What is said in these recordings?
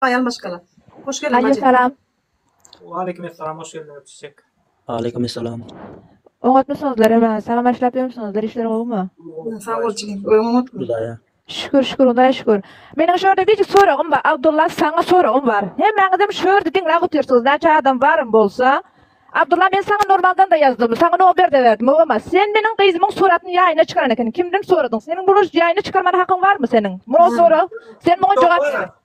Aýal maşgala. Hoş geldiň Alýo bajy. salam. Waleýkim essalam hoş geldiň öpüş çek. Aleýkum essalam. Oňatmysyňyzlar emä. Salam başlap ýörmüsiňizdir işler gowymy. Sag bol jigim. Öň oňatmy? Hudaýa. Şükür şükür Hudaýa şükür. Meniň şörde birjik soragym bar Abdulla saňa soragym bar. Hemmäňizem şörde diňläp otyrsyňyz näçe adam barym bolsa. Abdulla men saňa normaldanda ýazdym saňa noberde berdim howama sen meniň gyzymyň suratyny ýaýyna çykaran ekeniň kimden soradyň seniň buny ýaýyna çykarmana hakyň barmy seniň muňa sorag sen muňa jogap ber.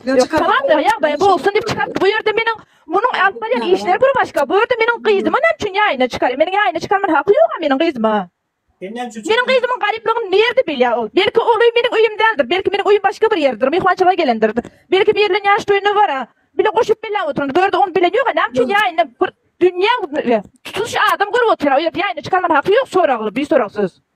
Salam ýagdaýy bolsun dip çykarpdy bu ýerde meniň munuň alyp barýan işleri bir başga bu ýerde meniň gyzymy näme üçin ýaýyna çykarýa meniň ýaýyna çykarman haky ýoga meniň gyzymy meniň gyzymyň garyplygyny nirde bilýa ol belki oluy meniň uyum däldir belki meniň uyum başga bir ýerdir myhmançylyga gelendir belki bir bilen ýaş toýuna bara bile goşup belläp oturandyr bu ýerde ony bilen ýoga näme üçin ýaýyna bir dünýä tutuş adam görüp otyra o ýerde ýaýyna çykarman haky ýok soragly bisorak söz.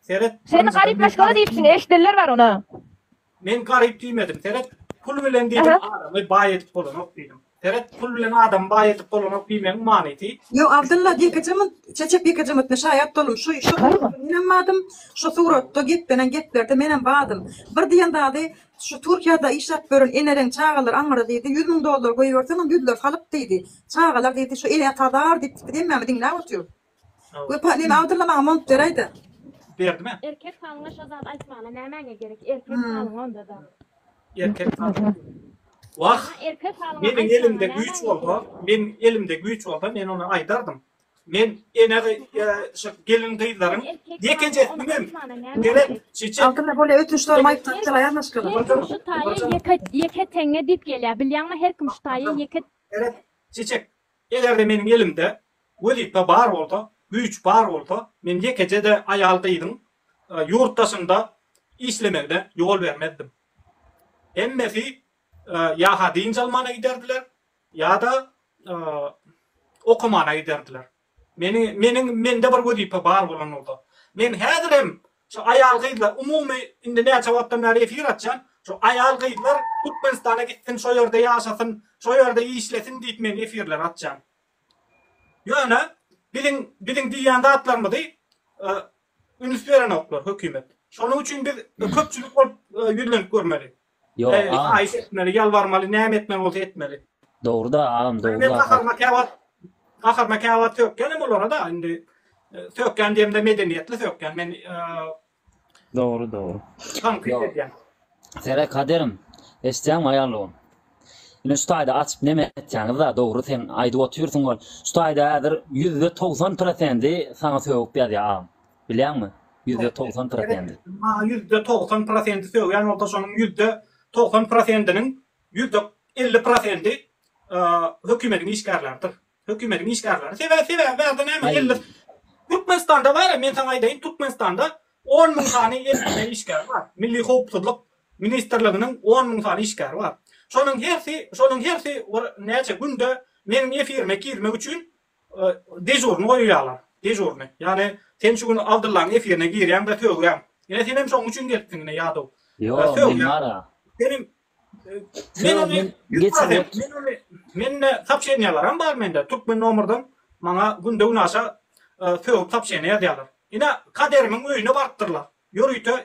Seret. Seni garyp maşgala diýipsin eşidenler bar ona. Men garyp diýmedim seret. Pul bilen diýdim adamy baý edip bolanok diýdim. Seret pul bilen adamy baý edip bolanok diýmegiň manysy. Ýok Abdylla Ýekejemyt Çeçek Ýekejemytna şaýat boldum şu şu menem badym şu suratda geplenen geplerde menem badym bir diýen zady şu Türkiýada işläp ýören eneleň çagalary aňyra diýdi ýüz müň dollar goýberseňem ýüzleri salyk diýdi çagalar diýdi şu ele ata zar diýipdik biz hemmämiz diňläp otyr. Wepa neme awdyrma maňa mont beräýdä. Berdime. Erkek halyňa şo zady aýtmana nämäňe gerek erkek halyňa ondada. Erkek halyňa. Wah meniň elimde güýç bolsa meniň elimde güýç bolsa men ony aýdardym. Men ene şo gelin gyzlaryň ýekeje ümem gerek çeçe. Altynda bolýa ötün ştorum aýyp zat dela ýazma şkala. Her kim şu taýa ýeke ýeke teňňe diýip gelýä bilýäňmi her kim şu taýa ýeke. Gerek çeçek. Eger-de meniň elimde wezipe bar bolsa, güýç bar bolsa, men ýekeje-de aýal-gyzyň ýurt daşynda işlemegine ýol bermezdim. Hemmesi ýa-ha dynç almana giderdiler, ýa-da okamana giderdiler. Meniň, meniň, mende bir wezipe bar bolan bolsa, men häzirem Şu aýal gyzlar umumy indi näçe wagtdan bäri efir açýan, şu aýal gyzlar Türkmenistana gitsin şo ýerde ýaşasyn, şo ýerde işlesin diýip men efirleri açýan. Ýöne biziň biziň diýýän zatlarymyzy üns berenoklar hökümet. Şonuň üçin biz köpçülik bolup ýüzlenip görmeli. Ýok Eý, agam. haýyş etmeli, ýalbarmaly, näme etmeli bolsa etmeli. Dogruda agam, Indi men dogruda. gaharyma käwagt gaharyma käwagt sökýänem olara-da indi. Sökýän diýemde medeniýetli sökýän. Men Dogry, dogry. tankyt Ýok. edýän. Sere Kaderim, eşitýäňmi aýal dogan? Ine şu taýda açyp neme etýäňiz-da, dogry sen aýdyp otyrsyň ol. Şu taýda häzir ýüzde togsan prosendi saňa sögüp ýazýar agam. Bilýäňmi? Ýüzde togsan prosendi. Maňa ýüzde togsan prosendi sögýän bolsa, şonuň ýüzde togsan prosendiniň ýüzde elli prosendi hökümediň işgärleridir. Hökümediň işgärleri. Sebäbi, sebäbi bärde näme elli Türkmenistanda bar, men saňa aýdaýyn, Türkmenistanda on müň sany elli işgär bar. Milli howpsuzlyk ministrliginiň on müň sany işgäri bar. Şonuň hersi, şonuň hersi bir näçe günde meniň efirime girmek üçin Dežurny goýýarlar. Dežurny. Ýagny sen şu gün Abdyllaň efirine girýäň-de sögýäň. Ine senem şoň üçin gelipsiň ine ýadow. Ýok, men bar-a. Senem Men ony Mende sopşeniýalaram bar mende. Türkmen nomerden maňa günde-günaşa sögüp sopşeniýa ýazýarlar. Ine Kaderimiň öýüne barypdyrlar. Ýörite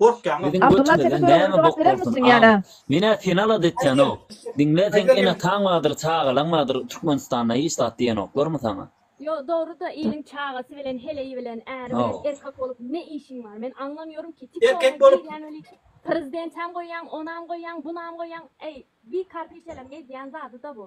Gorkýaňyz. Abdulla sesiň görogly jogap berermisň ýa-da. Menä seni alada etýänok. Diňle seň enataň bardyr çagalaň bardyr Türkmenistanda hiç zat diýenoklarmy saňa. Ýo dogryda iliň çagasy bilen heleýi bilen äri bilen erkek bolup ne işiň bar men aňlamýorym ki tiktoga girýäň weli prezidentäm goýýaň onam goýýaň bunam goýýaň eý bi karpiçeleriň edýän zadyda bu.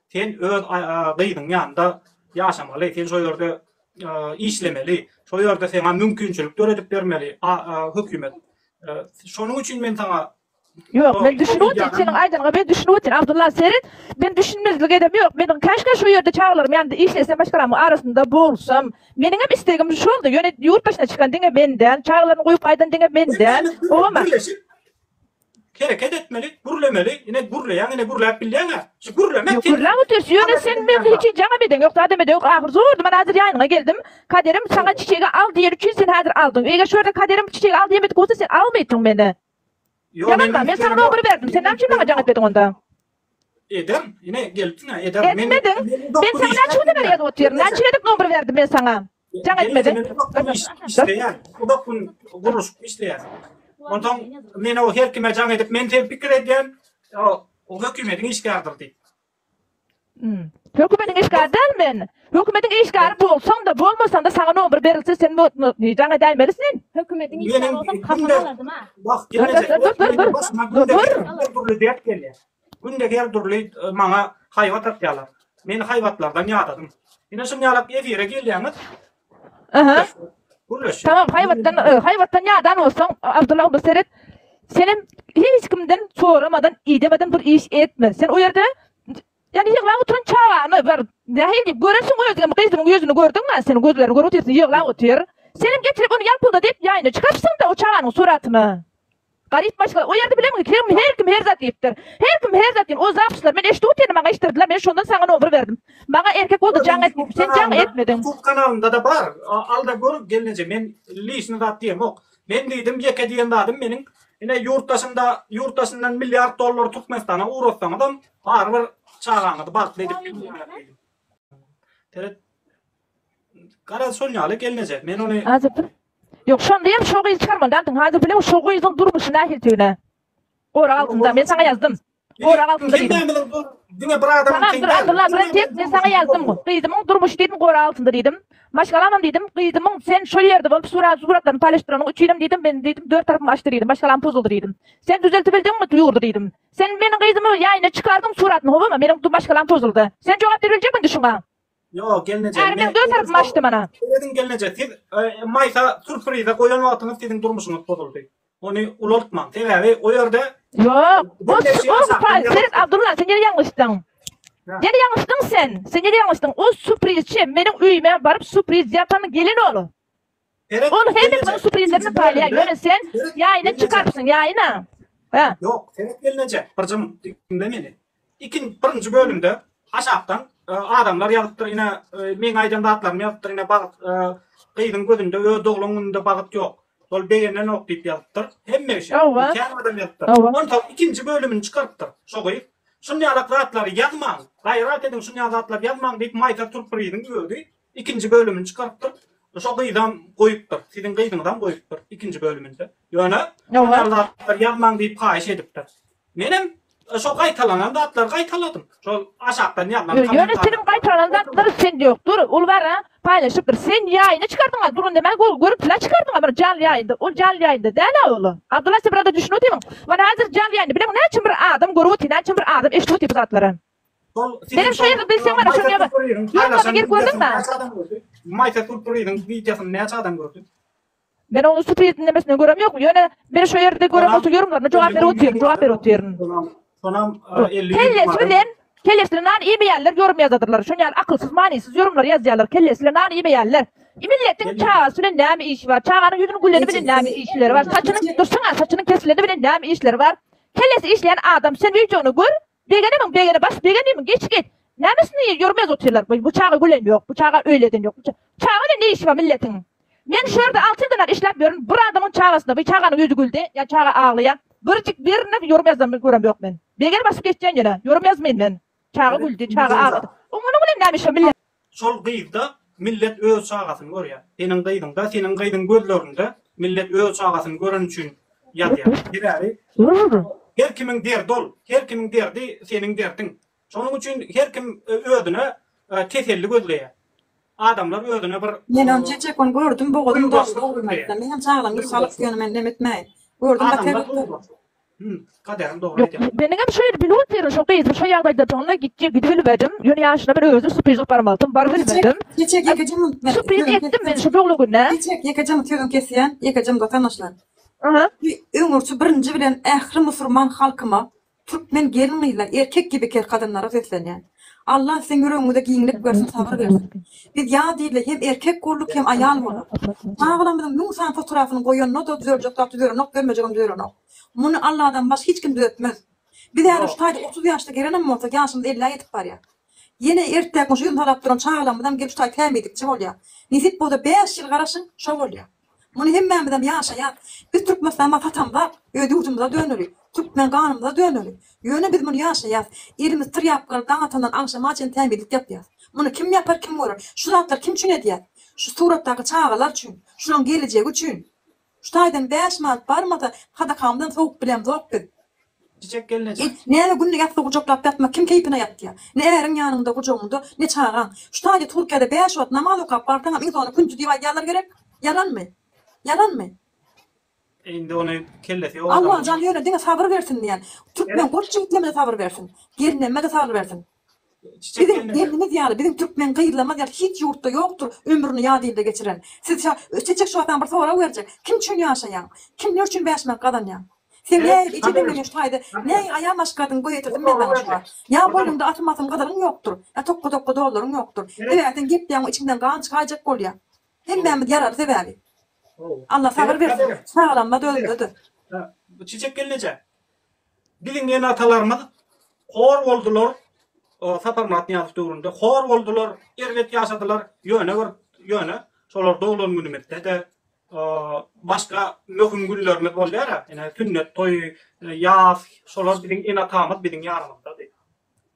Sen öz gyzyň ýanynda ýaşamaly, sen şo ýerde işlemeli, şo ýerde saňa mümkinçilik döredip bermeli hökümet. Şonuň üçin men saňa Ýok, men düşünip otyryn, seniň aýdanyňa men düşünip otyryn, Abdulla seret, men düşünmezlik edem ýok, meniň käşgä şo ýerde çagalarym ýanynda işlesem, maşgalamyň arasynda bolsam. Meniňem islegim şoldy, ýöne ýurt başyna çykan diňe men däl, çagalaryny goýup gaýdan diňe men däl. Oňa birleşip. Hereket etmeli, gürlemeli, ine gürleýäň, ine gürläp bilýäňä. Şu gürlemek sen. Gürläp otur, ýöne sen meň hiç jana bedeň ýok, zada bedeň ýok, ahyr zor duman hazir ýanyňa geldim, kaderim saňa çiçegi al diýen üçin sen hazir aldyň, eger şu ýerde kaderim çiçegi al diýemedik bolsa sen almaýtyň meni. Ýalanma, men saňa nogry berdim, sen näme üçin maňa jaň etmediň onda? Ederin, ine gelipsiň-ä, ederin. Etmediň, men saňa näçe günden bäri ýazyp otyryn, näçe gezek nogry berdim men saňa? Jaň etmedi. Işleýär. Uzak gün gurluşyk işleýär. Ondan men o her kime jaň edip, men sen pikir edýän, o hökümetiň işgärdir diýip. Hmm. Hökümetiň işgäri däl men. Hökümetiň işgäri bolsaň-da, bolmasaň-da saňa nomer berilse sen jaň edäýmeli sen. Hökümetiň işgäri bolsaň, kapalarlardyma. Wah, geljek. Dur, dur, dur. Dur, dur. Günde her dürli maňa haýbat atýarlar. Meni haýbatlardan ýadadym. Ine şum ýalak efire gelýäňiz. Gürleşjek. Tamam haýbatdan haýbatdan ýadan bolsaň Abdullah onda seret. Senem hiç kimden soramadan idemeden bir iş etme. Sen o ýerde Yani ýyglap oturan çagany bir nähili diýip görersiň özüňem gyzyňyň ýüzüni gördiňmi seniň gözleriň görüp otyrsyň ýyglap otyr. Senem getirip ony ýalpylda diýip ýaýyna çykarypsyň-da o çaganyň suratyny. Garyp başga o ýerde bilemgi kim her kim her zat diýipdir. Her kim her zat diýen o zapyslary men eşdip otyryn maňa eşdirdiler men şondan saňa nomber berdim. Maňa erkek boldy jaň et sen jaň etmediň. Youtube kanalynda-da bar alda gör gelneje men lişni zat diýemok. Men diýdim ýeke diýen zadym meniň ine ýurt daşynda ýurt daşyndan milliard dollary Türkmenistana ugratsaňyzam barybir çagaňyzy bagtly edip bilmeýäris diýdim. Garaz şol ýaly gelneje. Men ony Häzir bir Ýok, şonda hem şo gyzy çarman daldym. Häzir bilew şo gyzyň durmuşy nähildigini. Gorag altynda, men saňa ýazdym. Gorag altynda diýdim. Hemmämiziň bu diňe bir adamyň Saňa bir Abdylla bir tek men saňa ýazdym. Gyzymyň durmuşy diýdim gorag altynda diýdim. Maşgalamam diýdim, gyzymyň sen şol ýerde bolup surat suratlaryny paýlaşdyranyň üçinem diýdim, men diýdim dört tarapym açdy diýdim, maşgalam pozuldy diýdim. Sen düzeltibildiňmi ýurdy diýdim. Sen meniň gyzymy ýaýyna çykardyň suratyny howama, meniň maşgalam pozuldy. Sen jogap beribiljekmiň indi şuňa? Ýok, gelneje. Äriňden döw tarapymy açdy mana. Serediň gelneje, siz maýsa surprize goýan wagtyňyz siziň durmuşyňyz bozuldy. Ony ulaltmaň. Sebäbi o ýerde Ýok, bu o surpriz. Seret Abdulla, sen ýene ýalňyşdyň. Ýene ýalňyşdyň sen. Sen ýene ýalňyşdyň. O surprizçi meniň öýüme baryp surpriz ýapan gelen ol. Ol hemme kimin suprinlerini paýlaýar, ýöne sen ýaýyny çykarypsyň, ýaýyna. Hä? Ýok, seret gelneje, bir jymmyt diňle meni. Ikin, birinji bölümde aşakdan adamlar ýazypdyr, ine, meň aýdan zatlarymy ýazypdyr, ine, bagt, gyzyň gözünde öz doglan gününde bagt ýok, ol begenenok diýip ýazypdyr. Hemme kişi, kän adam ýazypdyr. Onsoň ikinji bölümini çykarypdyr şo gyz. Şunýalak zatlary ýazmaň, gaýrat ediň, şunýalak zatlary ýazmaň diýip maýka turup bir gyzyň özi Ikinji bölümini çykarypdyr. Şo gyzam goýupdyr. Siziň gyzyňyzam goýupdyr ikinji bölüminde. Ýöne bar zatlar ýazmaň diýip haýyş edipdir. Menem şo gaýtalanan zatlary gaýtaladym. Şol aşakdan ýazlan kommentarlary. Ýöne siziň gaýtalanan zatlaryňyz sende ýokdur. Ol bara paýlaşypdyr. Sen ýaýyna çykardyňa duran demä gol görüntülä çykardyňa bir janly ýaýynda. Ol janly ýaýynda dälä ol. Abdylla sen biraz-da düşünip otyň. Mana häzir janly ýaýynda bileň näçe bir adam görüp otýar, näçe bir adam eşidip otýar bu zatlary. Senem şeýle bilseň mana şoňa ýaga. Ýaňlaryna gelip gördüň mi? Maýsa Surprizin wideosyny näçe adam gördi? Men onuň Surpriz diňlemesini görem ýok. Ýöne meni şu ýerde görüp otur ýorumlaryna jogap berip otyryn, jogap berip otyryn. Sonam Kellesi bilen kellesine nan iýmeýänler ýorum ýazadyrlar. Şuny ýaly akylsyz manysyz ýorumlar ýazýarlar kellesine nan iýmeýänler. Milletiň çagasy bilen näme işi bar? Çaganyň ýüzüniň güleni bilen näme işleri bar? Saçynyň dursaňa saçynyň kesileni bilen näme işleri bar? Kellesi işleýän adam sen wideony gör. Begenimiň begeni baş begenimiň geçi geç. Näme üstüne ýer ýörmez otyrlar. Bu çaga gülen ýok. Bu çaga öýleden ýok. Bu çaga bilen ne işi bar milletiň. Men şu ýerde alty ýyldan bäri işläp ýörün. Bir adamyň çagasyna bu çaganyň ýüzi güldi. Ýa çaga aglaýa. Birjik birini ýörmezden görem ýok men. Begeni basyp geçýän ýöne. Ýörmezmin men. Çaga güldi. Çaga aglady. Oňunyň bilen näme işi bar milletiň. Şol gyzda millet öz çagasyny görýär. Seniň gyzyňda, seniň gyzyň gözlerinde millet öz çagasyny göreni üçin ýazýar. Sebäbi her kimiň derdi ol, her kimiň derdi seniň derdiň. Şonuň üçin her kim özüne teselli gözleýär. Adamlar özüne bir. Men on çeçek gün gördüm bogazym doldy ogulmyratdan. Menem çaglamyň salyk ýöne men nem etmäýin. Gördüm bater. Meniňem şu ýeri bilip otyryn, şo gyzy şu ýagdaýdadygyna gitjek gidibilmedim. Ýöne ýaşyna men özüm supriz goparyp alsam, barybilmedim. Supriz etdim men şu doglugyna. Çiçek, ýekeje-mi sözüň kesýän, ýekeje-mi-de tanaşlar. Öňürti birinji bilen ähli musurman halkyma, türkmen gelin-gyzlar, erkek gibi kel kadynlara seslenýän. Allah siziň ýüregiňize giňlik bersin sabyr bersin. Biz ýa diýle hem erkek bolduk hem aýal bolduk. Çagalarymyzyň müň sany fotorabyny goýanyna-da düzeljek zat düzelenok bermejegem düzelenok. Muny Alladan baş hiç kim düzetmez. Biz häzir şu taýda otuz ýaşda gerenem bolsak ýaşymyz ellä ýetip barýar. Ýene ertäk muşa ýüzüni talap duran çagalaymyzam gelip şu taý tämizlikçi bolýar. Nesip bolsa bäş ýyl garaşyň şo bolýar. Muny hemmämizem ýaşaýan Biz Türkmenistanda satamzak öz ýurdumyza döneli, Türkmen ganymyza döneli. Ýöne biz muny ýaşaýas. Elimiz tirýapkany daň atandan agşama çen tämizlik ýapýas. Muny kim ýapar kim görer. Şu zatlary kim üçin edýäs. Şu suratdaky çagalar üçin. Şulaň gelejegi üçin. Şu taýdan bäş manat barmasa sadakamyzdan sowup bilemzok biz. Çiçek gelneje. It, näme günde ýassy gujaklap ýatmak kim keýpine ýatýa. Ne äriň ýanyňda, gujagyňda, ne çagaň. Şu taýda Türkiýede bäş wagt namaz okap barsaňam iň soňunda künji diýip aýdýarlar gerek? Ýalanmy? Ýalanmy? Indi ony kellesi ýok adamyň. Allajan ýöne diňe sabyr bersin diýen. Türkmen goç jigitlemede sabyr bersin. Gelnemme-de sabyr bersin. Siziň gelniňiz ýaly biziň türkmen gyzlarymyz ýaly hiç ýurtda ýokdur ömrüni ýat ilde geçiren. Siz şa Çeçek şu adam bir sorag berjek. Kim üçin ýaşaýaň? Kim ne üçin bäş manat gazanýaň? Sen näýe içe deňleýäň şu taýda? Näýe aýal maşgaladyň göz ýetirdim men saňa şu wagt. Ýa boýnuňda atym asym gyzylyň ýokdur. Ýa tokga dokga dollaryň ýokdur. Sebäbi sen gepleýäň we içiňden gan çykaýjak bolýa. Hemmämiz ýaraly sebäbi. Alla sabyr bersin. Çagalarymyz özündedir. Bu Çeçek gelneje Biziň ene-atalarymyz hor boldular, Saparmyrat Nyýazow döwründe hor boldular, erbet ýaşadylar, ýöne bir ýöne şolar doglan günümizde-de, başga möhüm günlerimiz bolýar-a, ine, sünnet toýy, ýas, şolar biziň ene-atamyz biziň ýanymyzdady.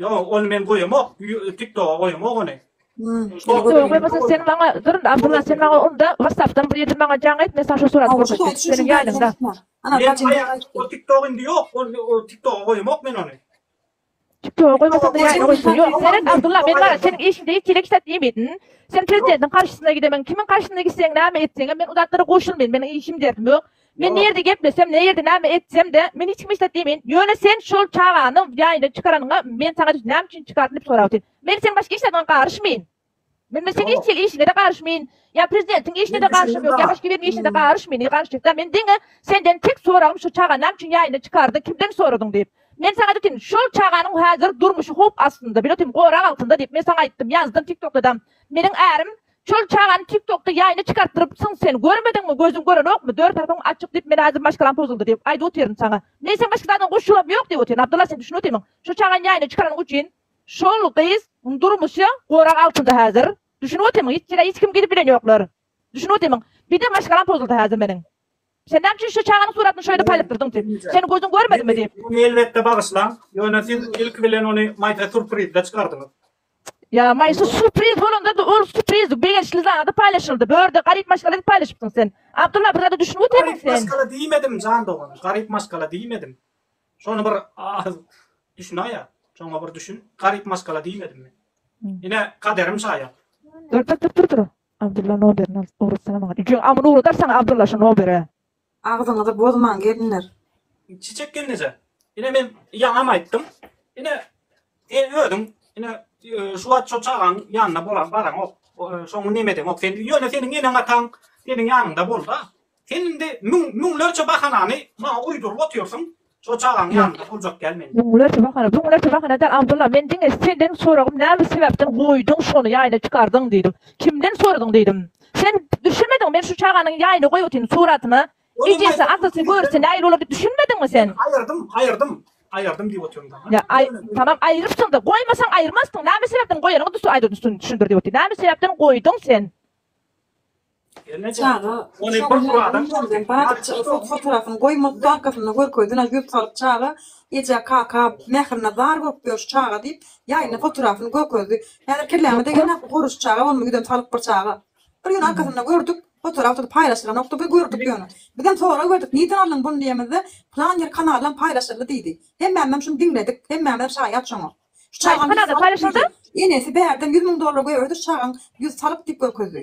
Ýok, ony men goýamok. TikToka goýamok ony. TikToka goýmasaň sen maňa dur indi Abdylla sen maňa unda WhatsAppdan bir ýerde maňa jaň et men saňa şo suraty görkezjek seniň ýanyňda. O TikTok indi ýok ol TikToka goýamok men ony. TikToka goýmasaňda ýaýyna goýsun. Ýok seret Abdylla men gara seniň işiňde ýekeýle işläp iýmeýdin. Sen prezidentiň garşysyna gidemen kimiň garşysyna gitseň näme etseňem men u zatlara goşulmaýyn meniň işim derdim ýok. Men nirede geplesem, nirede näme etsem-de, men hiç kime hiç zat diýmeýin. Ýöne sen şol çagany ýaýyndan çykaranyňa men saňa näme üçin çykardyň diýip sorap otyryn. Men seniň başga işleriňe garyşmaýyn. Men men seniň hiç hili işiňe-de garyşmaýyn. Ýa prezidentiň işine-de garyşym ýok, ýa başga biriniň işine-de garyşmaýyn. Nirä garyşjak-da? Men diňe senden tek soragym şu çagany näme üçin ýaýyndan çykardyň, kimden soradyň diýip. Men saňa aýdotyryn, şol çaganyň häzir durmuşy howp astynda, biletim gorag altynda diýip men saňa aýtdym, ýazdym, tiktokdadam. Meniň ärim Şol çagany tiktokda ýaýna çykartdyrypsyň sen görmediňmi gözüň görenokmy dört tarapyň açyk diýip men hazir maşgalam pozuldy diýip aýdyp otyryn saňa men sen başga zadyň goşulam ýok diýip otyryn Abdylla sen düşünip otyrmyň şo çagany ýaýna çykaranyň ucin şol gyz yň durmuşy gorag altynda hazir düşünip otyrmyň hiç ýere hiç kim gidip bilen ýoklar düşünip otyrmyň bide maşgalam pozuldy hazir meniň. Sen näme üçin şu çaganyň suratyny şöýle paýlapdyrdyň diýip. Seniň gözüň görmedimi diýip. Muny elbetde bagyşlaň. Ýöne siz ilki bilen ony Maýsa surprizde çykardyňyz. Ýa Maýsa surpriz bolanda-da ol surpriz begençli zady paýlaşyldy. Bu ýerde garyp maşgala diýip paýlaşypsyň sen. Abdylla bir zada düşünip otyrsyň sen. Garyp maşgala diýmedim jan dogan. Garyp maşgala diýmedim. Şony bir az düşünaýa. Şoňa bir düşün. Garyp maşgala diýmedim men. Ine kaderim şaýat. Dur dur dur dur dur. Abdylla noberini alyp ugratsana maňa. Jüň amyny ugradar saňa Abdylla şu nobere. Agzyňyzy bozmaň gelinler. Çiçek gelneje ine men ýaňam aýtdym ine sen özüň ine şu wagt şo çagaň ýanyna bolan baraňok şoňy neme edeňok sen ýöne seniň eneň ataň seniň ýanyňda bolda sen indi müň müňlerçe bahanany maňa uýduryp otyrsyň Şo çagaň ýanynda boljak däl men. Muňa näçe bahana, buňa näçe bahana däl Abdylla, men diňe senden soragym näme sebäpden goýduň şony ýaýna çykardyň diýdim. Kimden soradyň diýdim. Sen düşünmediňmi men şu çaganyň ýaýna goýupatyryn suratyny ejesi atasy görse nähili bolar diýip düşünmediňmi sen. Aýyrdym, aýyrdym, aýyrdym diýip otyryn daňa. Ýa aý tamam aýyrypsyňda goýmasaň aýyrmazdyň näme sebäpden goýanyňy aýdyp düşündir diýip otyryn. Näme sebäpden goýduň sen. Çaga şoňňularyndan badypjygy sot fotorasyny goýmak dakysynda görkezdi, ýa ýüz salyp çaga eje, kaka mährine zar bolup ýör şu çaga diýip, ýaýyna fotorasyny görkezdi. Häzir kelläme degende bu goruş çaga bolmy ýüzem salyp bir çaga. Bir gün arkasynda gördük, fotorap tutup paýlaşylanokdy, bir gördük ýöne. Bizem sorag berdik, nirden aldyň buny diýemizde, plan ýer kanaldan paýlaşyldy diýdi. Hemmämizem şuny diňledik, hemmämizem şaýat şoňa. Şu çagaň ýüz salyp diýdi. Enesi bärden ýüz müň dollar goýberdi şu çagaň ýüz salyp diýip görkezdi.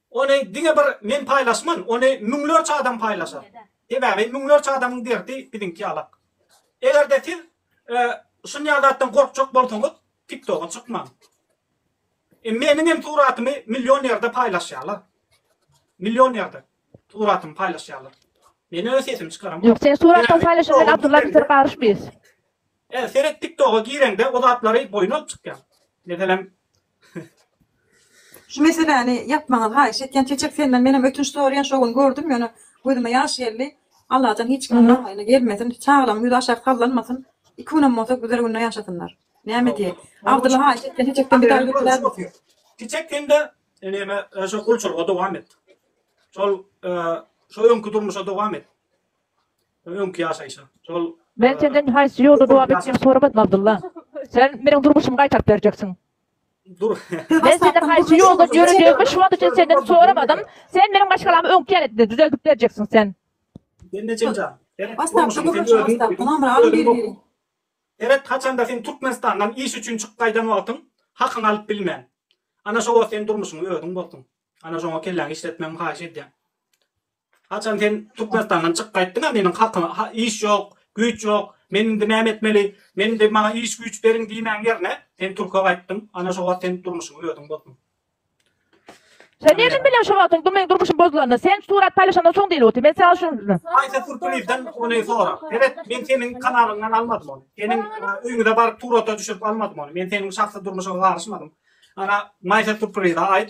Ony diňe bir men paýlaşman, ony müňlerçe adam paýlaşar. Sebäbi müňlerçe adamyň derdi biziňki ýalak. Eger-de siz şunýa zatdan gorkjak bolsaňyz, TikToga çykmaň. Meniň hem suratymy million ýerde paýlaşýarlar. Million ýerde suratymy paýlaşýarlar. Men öz sesimi çykaramok. Ýok, sen suratdan paýlaşyp men Abdulla bilen garyşmyz. Seret TikToga gireňde o zatlary boýun alyp çykýar. Meselem, Şu meseläni ýapmaňyzy haýyş etýän Çeçek senden menem ötünç soraýan şo gün gördüm ýöne gözüme ýaş geldi Allajan hiç kimiň garaýyna gelmesin çagalaň ýüzi aşak sallanmasyn iki günem bolsa güzel günde ýaşasynlar näme diýeý Abdylla haýyş etýän Çeçekden bir zat ötünýärmisň. Çeçek sende neme şo gulçulyga dowam et şol şo öňki durmuşa dowam et. Öňki ýaşaýşa. Şol. Men senden haýsy ýolda dowam etmegimi soramadym, Abdylla. Sen meniň durmuşymy gaýtaryp berjeksiň. Dur. Men senden haýsy ýoldan ýörejegimi şu wagt üçin senden soramadym. Sen meniň maşgalamy öňki ýaletde düzeldip berjeksiň. Sen. Bende jenjal. Seret, durmuşyňy sen özüň özüň bozduň. Seret, haçanda sen Türkmenistandan iş üçin çykyp gaýdan wagtyň hakyňy alyp bilmen. Ana şo wagt sen durmuşyňy özüň bozduň. Ana şoňa kelläňi işletmegimi haýyş edýän. Haçan sen Türkmenistandan çykyp gaýtdyň-a meniň halkyma ha iş ýok, güýç ýok, men indi näme etmeli, men indi maňa iş güýç beriň diýmäň ýerine sen Türkiýe gaýtdyň, ana şo wagt sen durmuşyňy özüň bozduň. Sen nirden bilýäň şo wagtyň dur meň durmuşym bozulanyny, sen surat paýlaşandan soň diýlip otyr, men saňa şuny. Haýsy Türkmenizden ony sora. Seret men seniň kanalyňdan almadym ony, seniň öýňüze baryp surata düşürip almadym ony, men seniň şahsy durmuşyňa garyşmadym, ana Maýsa Türkmenize aýt,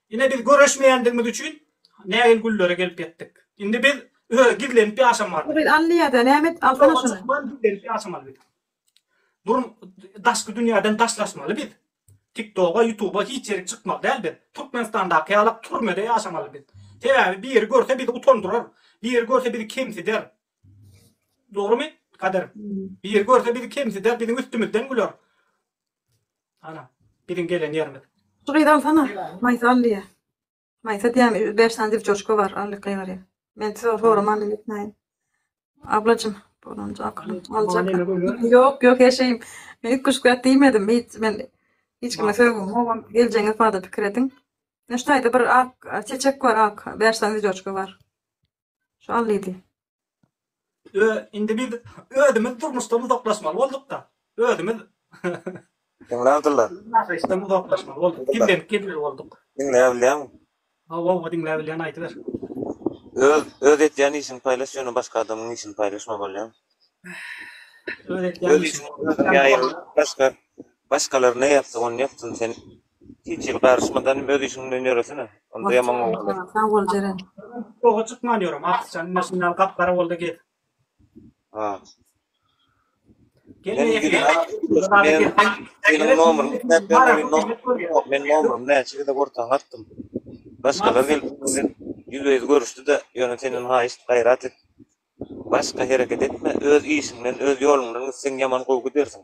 Ine biz göreşmeýändigimiz üçin nägil günlere gelip ýetdik. Indi biz öe gizlenip ýaşamaly. Biz Allyýada näme edip alsana şuny. Ýoga çykmaly gizlenip ýaşamaly biz. Durm daşky dünýäden daşlaşmaly biz. Tiktoga ýutuba hiç ýerik çykmaly däl biz. Türkmenistandaky ýalak türmede ýaşamaly biz. Sebäbi biri görse bizi utandyrar. Biri görse bizi kemsider. Dogrymy Kadyr? Biri görse bizi kemsider biziň üstümizden güler. Ana, biziň gelen ýerimiz. Şu gyzy alsana. Maýsa al diýýär. Maýsa diýýär, bäş sany dewçoşka bar, al gygyry. Men size soraman diýip etmäýin. Ablajym, bolanja akylyň aljak. Ýok, ýok, her şeyim. Men ilk guşgäp diýmedim. Hiç men hiç kime sözüm howam geljeňiz barada pikir ediň. Neştaýda bir ak çeçek bar, ak, bäş sany dewçoşka bar. Şu allydy. Ö, indi biz özümiz durmuşdan uzaklaşmaly bolduk-da. Özümiz Diňle Abdylla. yaşaýyşdan uzaklaşmaly bolduk. Gizlenip gezmeli bolduk. Diňle bilýäňmi? Hawa, hawa, diňläp bilýän aýdyber. Öz öz etýän işiňi paýlaş ýöne başga adamyň işini paýlaşma bolýamy? Öz etýän Öz işiňi işiňi özüňe ýaýra başga başgalar ne ýapsa ony ýapsyn sen Hiç ýyl garyşmadan hem öz işiňden ýöresene. Onda ýaman gowy bolar. Sag bol Jeren. Goha çykman ýörem Akyşjan ine şundan gap gara boldy gez. Ha. Gelme ýeke. Meniň nomerimi islap ýörüň. Meniň nomerimi näçe gezek ortaňa atdym. Başgalar gelip bilen ýüzbe ýüz görüşdi-de ýöne senden haýyşt gaýrat et. Başga hereket etme öz işiňden öz ýoluňdan gitseň ýaman gowy gidersiň.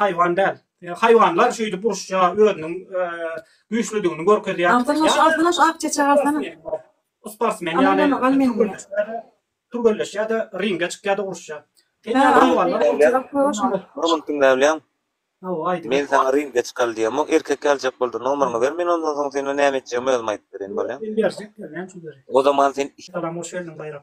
haýwan däl. Haýwanlar şeýdip uruşja özüniň güýçlüdigini görkezýär. Altynbaş, Altynbaş ak çeçek alsana. Sportsmen ýaly türgenleşýär-de, ringe çykýar-da uruşýar. Munuň kim näme bilýän? Men saňa ringe çykal diýemok, erkek ýaljak boldy, nomeryňy ber, men ondan soň seni näme etjegimi özüm aýdyp bereýin, bolýa? O zaman sen Salam, hoş geldiň Baýram.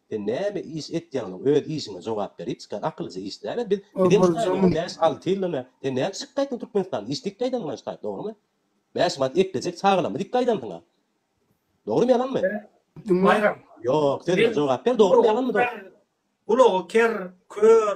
Sen näme iş etýäňiň öz işiňe jogap ber hiç kän akyllyja iş däl biz biziň ştaýyň bäş alty ýyllyny sen näme çykyp gaýtdyň türkmenistanda iş dik gaýdan muňa ştaýy dogrymy bäş manat eklejek çagalamy dik gaýdansyňa dogrymy ýalanmy Baýram ýok sözüme jogap ber dogrymy ýalanmy dost. Gulagy ker, kör,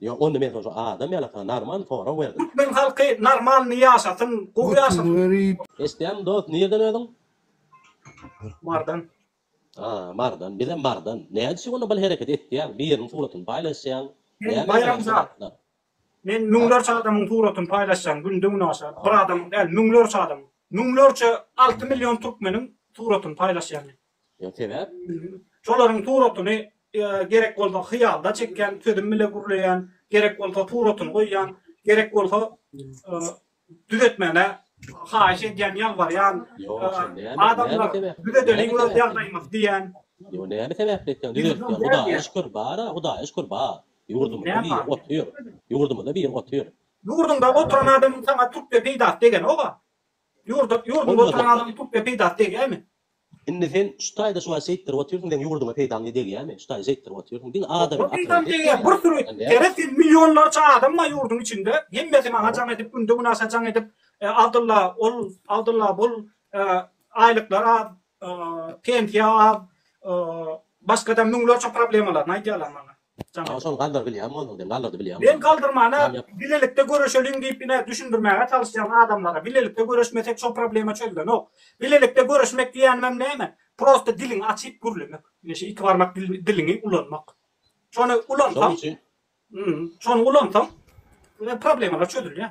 Ýok onda men şo adam ýaly saňa normal sorag berdim. Türkmen halky normalny ýaşasyn gowy ýaşasyn. Eşdýäňmi dost nirden özüň? Mardan. Haa Mardan bizem Mardan. Nädip şu günde bul hereketi etýäň biriniň suratyny paýlaşýaň. Men baýramzat. Men müňlerçe adamyň suratyny paýlaşýan günde günaşa bir adamyň däl müňlerçe adamyň. Müňlerçe alty million türkmeniň suratyny paýlaşýan men. Şolaryň suratyny gerek bolsa hyýalda çekýän, sözüm bile gürleýän, gerek bolsa suratyny goýýan, gerek bolsa düzetmäni haýyş edýän, ýalbarýan, adamlar düzedeliň öz ýagdaýymyzy diýýän. Ýöne näme sebäpli etseň düzeltýän, Hudaýa şükür bar-a, Hudaýa şükür bar. Ýurdumyzda biri otyr, ýurdumyzda biri otyr. Ýurduňda oturan adamyň saňa tüp-de peýdasy degenok-a. Ýurduňda oturan adamyň tüp-de peýdasy degýärmi? Indi sen şu taýda şu wagt şeýtdirip otyrsyň seň ýurdyňa peýdaň ne degýämi şu taýda şeýtdirip otyrsyň diňe adamyň akylyny Peýdam degýär bir sürü ýere sen millionlarça adam bar ýurdyň içinde hemmesi maňa jaň edip günde günaşa jaň edip Abdylla ol Abdylla bul aýlyklar az pensiýa az başgada müňlerçe problemalaryny aýdýarlar maňa. Jaňa şony galdyr bilýän bolduň sen galdyrdy bilýän bolduň. Men galdyrmana bilelikde göreşeliň diýip ine düşündirmäge çalyşýan adamlara bilelikde göreşmesek şo problema çözlenok. Bilelikde göreşmek diýenimem näme prosta diliňi açyp gürlemek. Ine şu iki barmak diliňi ulanmak. Şony ulansaň şony ulansaň problemalar çözülýär.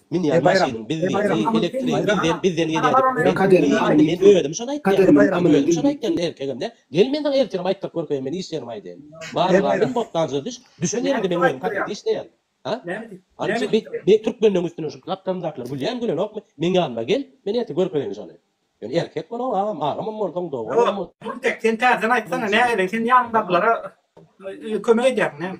Münýän maşynyň bizdigini, elektrigiň bizden, bizden gelýädigini men duýdum, indi men özüm şony aýtýan, indi özüm şony aýtýan, erkegem-dä, gel men saňa ertirem aýtdyryp görkeýin, men iş ýerime aýdaýyn. Barmyga, men bossanjyda düş, düşen ýerimde men özüm kabinetde işleýän. A? Alyjy, be, be, türkmenleň üstüne şu gapdalymdakylar gülýämi, gülenokmy, meň ýanyma gel, men ertir görkeýin şony. Ýöne erkek bol, o, agam, agamam bolsaň, doganam bolsaň. Gultek, sen täzeden aýtsana, nähili, sen ýanyňdakylara kömek edýärmiň näme?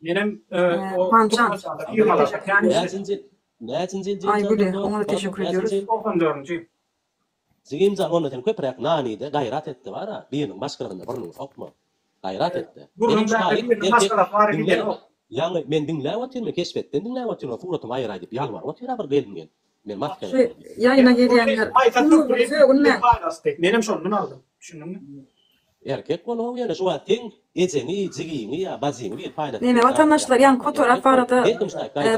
Menem Hanjan. Näçinji näçinji ýyl Aý güli oňa-da teşekkür edýäris. Togsan dördünji. Jigimjan onda sen köpüräk nanide gaýrat etde bara biriniň maşgalasynda burnuňy sokma. Gaýrat etde. Burnuň bärde biriniň maşgalasy bara gideni ýok. Ýagny men diňläp otyryn men keşbetden diňläp otyryn suratyňy aýyraý diýip ýalbaryp otyra bir gelin gel. Şu ýaýyna gelýänler umumy sögünmäň. Menem şondan aldym. Düşündiňmi? Erkek bolugam ýöne şu wagt seň ejeňi, jigiňi ýa bajyňy gelip paýlasy. Neme watandaşlar ýan kotorak barada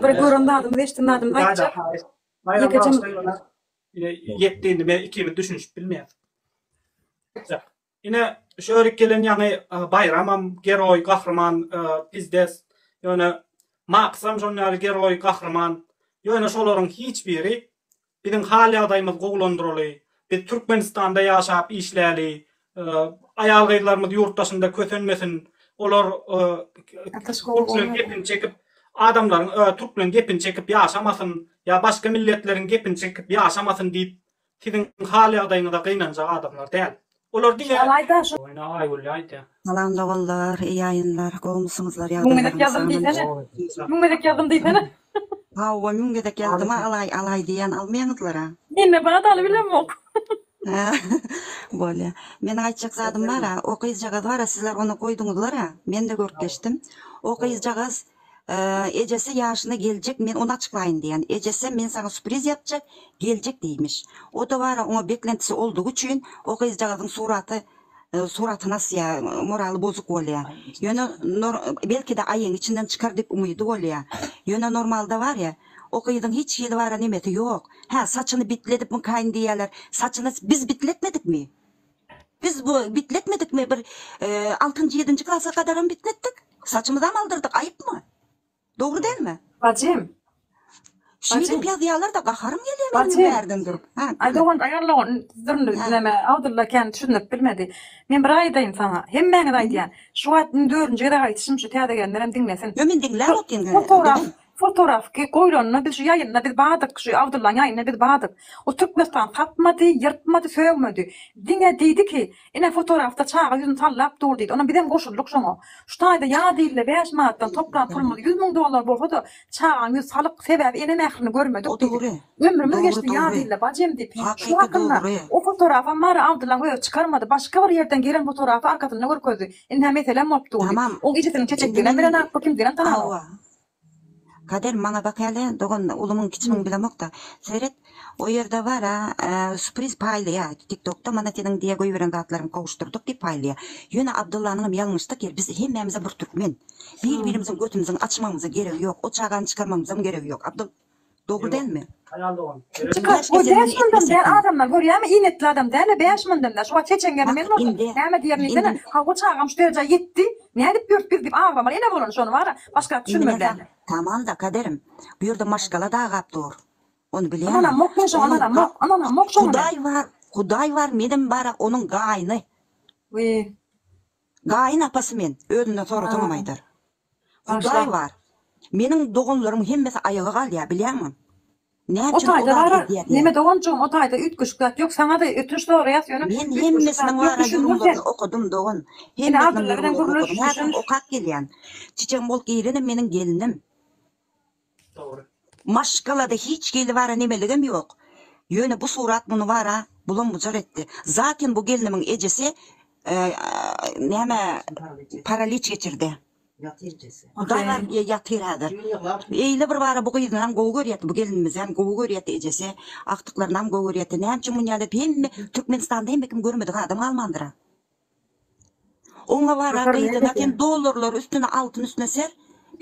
bir gören zadymyz eşden zadymyz aýtjak. Ýekeje. Ýetdi indi men ikimiz düşünişip bilmeýäs. Ine, şu örik gelen ýaňy Baýramam geroý, gahryman, pizdes. Ýöne Maksam şon ýaly geroý, gahryman. Ýöne şolaryň hiç biri Biziň hal-ýagdaýymyz gowulandyraly, biz Türkmenistanda ýaşap işläli, aýal-gyzlarymyz ýurt daşynda kösenmesin, olar türkmen gepini çekip, adamlaryň, türkmen gepini çekip ýaşamasyn ýa başga milletleriň gepini çekip ýaşamasyn diýip, Siziň hal-ýagdaýyňyza gynanjak adamlar däl. Olar diňe. Salam doganlar iyi ýaýynlar gowmysyňyzlar ýagdaýlaryňyz Hawa müň gezek ýazdym-a alaý alaý diýýän almaýaňyzlar-a. Bolýa. Meniň aýtjak zadym bar-a, o gyzjagaz bar-a sizler ony goýduňyzlar-a, men-de görüp geçdim. O gyzjagaz Ejesi ýaşyna geljek men ony açyklaýyn diýen. Ejesem men saňa supriz ýapjak, geljek diýmiş. O towara oňa beklentisi oldugy üçin o gyzjagazyň suraty suratyny asýa, moraly bozuk bolýa. Ýöne nor belkide aýyň içinden çykar diýip umydy bolýa. Ýöne normalda barýa o gyzyň hiç hili bara nemesi ýok. Hä saçyny bitledip mykayyn diýýäler. Saçyny biz bitletmedikmi? Biz bu bitletmedikmi bir altynjy ýedinji klasa gadaram bitletdik saçymyzam aldyrdyk aýypmy dogry dälmi. Bajym. Şuny edip ýazýalarda gaharym gelýä meniň bärden durup. Aý dogan aý alla on dürli näme Abdylla kän düşündirip bilmedi. Men bir aýdaýyn saňa. Hemmäňize aýdýan. Şu wagt dördünji gezek aýdyşym şu täze gelenlerem diňlesin. Ýok men diňläp otyryn. Fotoraf ki goýlanyna biz şu ýaýynda biz bardyk şu Abdullaň ýaýynda biz bardyk o Türkmenistan tapmady ýyrtmady sögmedi diňe diýdi ki ine fotorafda çaga ýüzüni sallap dur diýdi onam bizem goşuldyk şoňa şu taýda ýa diýildi bäş manatdan toplan pulumyz ýüz müň dollar bolsada çagaň ýüzi salyk sebäbi ene mährini görmedik diýdik ömrümiz geçdi ýa diýildi bacym diýip şu hakynda o fotorafam bary Abdullaň özi çykarmady başga bir ýerden gelen fotorafy arkasynda görkezdi indi hä meselem bolup dur diýip oň ejesiniň çeçekdiginem bilenok bu kimdiginem tananok. Kader maňa bak hele dogan ulumyň kiçimiň bilemokda seret o ýerde bara supriz paýlaýa tiktokda mana seniň diýe goýberen zatlaryňy gowuşdyrdyk diýip paýlaýa ýöne Abdullanyňam ýalňyşdyk ýeri biz hemmämizem bir türkmen bir birimiziň götümiziň açmagymyza geregi ýok o çagany çykarmagymyzam geregi ýok Abdulla Dogry dälmi? Haýal dogan. Çykaryş geçenini etmesekmi? Adamlar görýämi iýnekli adam dälä bäş mündemde şu wagt heçeňňede men bolsam näme diýerin diýsene hawa çagam şu derejä ýetdi nädip ýurt biz diýip aglamaly ene bolany şony bara başgap düşünmeli dälmi. Tamamda kaderim bu ýerde maşgala dagap dur ony bilýäňmi onuň hudaý bar hudaý bar menem bara onuň gaýyny gaýyn apasy men özünden sorasaňam aýdar. Hudaý bar. Meniň doganlarym hemmesi aýaga galýar bilýäňmi? Näme üçin o zady edýär diýä. Neme doganjygym o taýda üýtgeşik zat ýok saňa da ötünç soraýas ýöne Men hemmesiniň lara ýorumlaryny okadym dogan. Hemmesiniň ýorumlaryny okadym. Häzirem okap gelýän. Çiçegiň bolup girene meniň gelinim. Maşgalada hiç hili bara nemeligem ýok. Ýöne bu surat muny bara bulam-bujar etdi. Zaten bu gelnimiň ejesi näme paraliç geçirdi. Hudaý bar diýe ýatyr häzir. Eýle bir bara bu gyzynam gowy görýärdi, bu gelnimizem gowy görýärdi ejesi. Agtyklarynam gowy görýärdi. Näme üçin muny ýaly hemme Türkmenistanda hemme kim görmedik adam galmandyr-a. Oňa bara gyzyna sen dollarlar üstüne altyn üstüne ser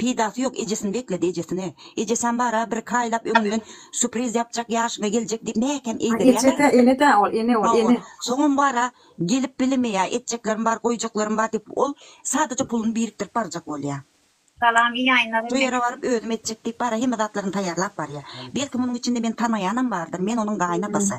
peýdasy ýok ejesini bekledi ejesini ejesem bara bir iki aýlap öňünden supriz ýapjak ýaşyňa geljek diýip mäkäm eýdirýäler enedä ol ene ol ene soňam bara gelip bilemeýä etjeklerim bar goýjaklarym bar diýip ol sadaja puluny birikdirip barjak bolýa. Salam iyi ýaýynlar şu ýere baryp özüm etjek diýip bara hemme zatlaryny taýýarlap barýa belki munuň içinde meni tanaýanam bardyr men onuň gaýynapasy.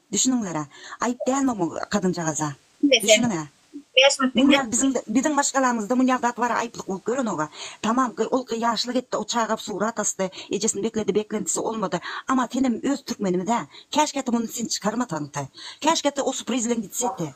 Düşüniňler-ä. Aýyp dälmi bu gazynjagaza? Düşüniň-ä. Munýa biziň biziň maşgalamyzda munýa zat bara aýyplyk bolup görenoga. Tamam gyz ol gyz ýaşly gitdi o çaga surat asdy. Ejesini bekledi beklentisi olmady. Ama senem öz türkmenimiz-ä. Käşgä-ti muny sen çykarmasaňty. Käşgä-ti o supriz bilen gitsedi.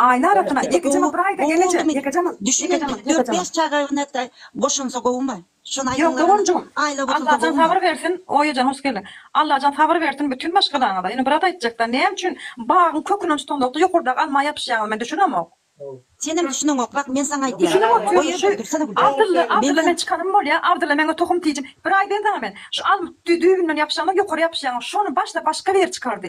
Aýna arasynda Ýekejemyl bir aýda geleje Ýekejemyl Ýekejemyl Ýekejemyl. Çaga öňe boşansa gowumy? Şony aýdyň Doganjygym Allajan sabyr bersin Oýejan hoş geldiň Allajan sabyr bersin bütin maşgalaňyza ýöne bir zat aýtjakda näme üçin bagyň kökünden tutanzokda ýokardaky alma ýapyşýaňyz men düşünemok. Senem düşüneňok bak men saňa aýdýan. Oýerjan dursana gülüm. Abdylla Abdylla men çykanym bolýa Abdylla meňe tohum tijim bir aýdaýyn saňa men şu alma düýbünden ýapyşaňyz ýokary ýapyşýaňyz şony başda başga biri çykardy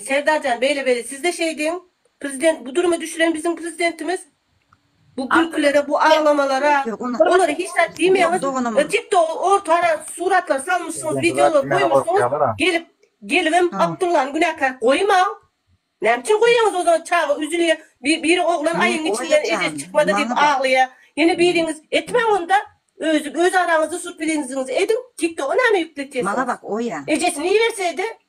Serdarjan beýle beýle sizde şeýdiň prezident bu duruma düşüren biziň prezidentimiz bu gülkülere bu aglamalara olara hiç zat diýmeýäňiz tik togy ortara suratlary salmyşsyňyz wideolary goýmuşsyňyz gelip gelibem abdyllany günäkär goýmaň näme üçin goýýaňyz ozan çaga üzülýä biri oglan aýyň içinden ejesi çykmady diýip aglaýa ýene biriňiz etmäň onda öz araňyzda surpiliziňizi ediň tik toga näme ýükletýesiňiz ejesini iberseýdi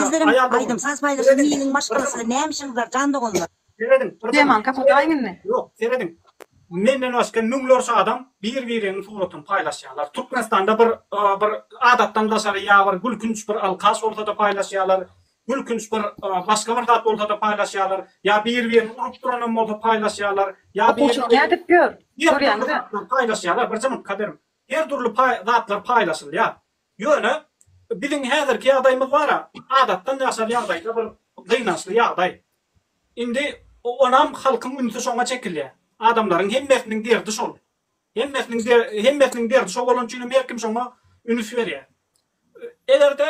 Sizleriň aýdym saz paýlaşan hiliň maşgalasy näme işiňiz bar jan doganlar. Teman kapataýyň indi. Ýok serediň menden başga müňlerçe adam bir biriniň suratyny paýlaşýarlar türkmenistanda bir bir adatdan daşary ýa bir gülkünç bir alkaş bolsada paýlaşýarlar gülkünç bir başga bir zat bolsada paýlaşýarlar ýa bir birini urup duranam bolsa paýlaşýarlar ýa bir Okuwçylyk nädip ýör görýäňizä paýlaşýarlar bir jymyt kaderim her dürli zatlar paýlaşylýar Ýöne biziň häzirki ýagdaýymyz bar-a, adatdan daşary ýagdaýda bir gynançly ýagdaý. Indi onam halkyň ünsi şoňa çekilýär. Adamlaryň hemmesiniň derdi şol. Hemmesiniň hemmesiniň derdi şo bolany üçinem her kim şoňa ünüs berýär. Eger-de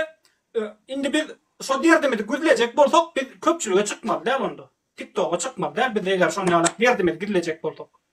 indi biz şo derdimizi güzlejek bolsak, biz köpçülige çykmaly däl onda. Tiktoga çykmaly däl biz eger şon ýaly derdimizi gizlejek bolsak.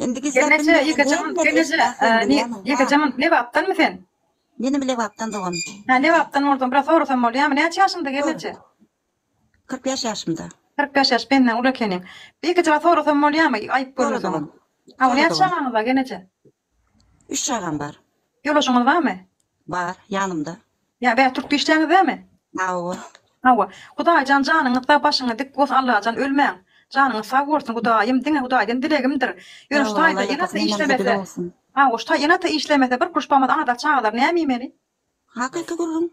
Endigi Sen neçe sebäbim ýeke jaman sen neçe ýeke jaman lebapdanmy sen? Menem lebapdan dogan. Hä lebapdan bolsaň biraz sorasam bolýamy näçe ýaşyňda gel neçe? Kyrk bäş ýaşymda. Kyrk bäş ýaş benden uly ekeniň. Bir ýeke jaman sorasam bolýamy aýyp görmeseň. Hawa näçe çagaňyz bar gel neçe? Üç çagam bar. Ýoldaşyňyz barmy? Bar, ýanymda. Ýa bä turkda işleýäňiz dämi? Hawa. Hawa. Hudaýjan janyňyz sag başyňyz dik bos Allajan ölmäň. Janyňyz sag bolsun Hudaýym diňe Hudaýdan dilegimdir. Ýöne ştaýda ýene ata işlemese. Hawa ştaý ýene ata işlemese bir kuruş bamaz anadar çagalar näme iýmeli? Hakyky gürrüň.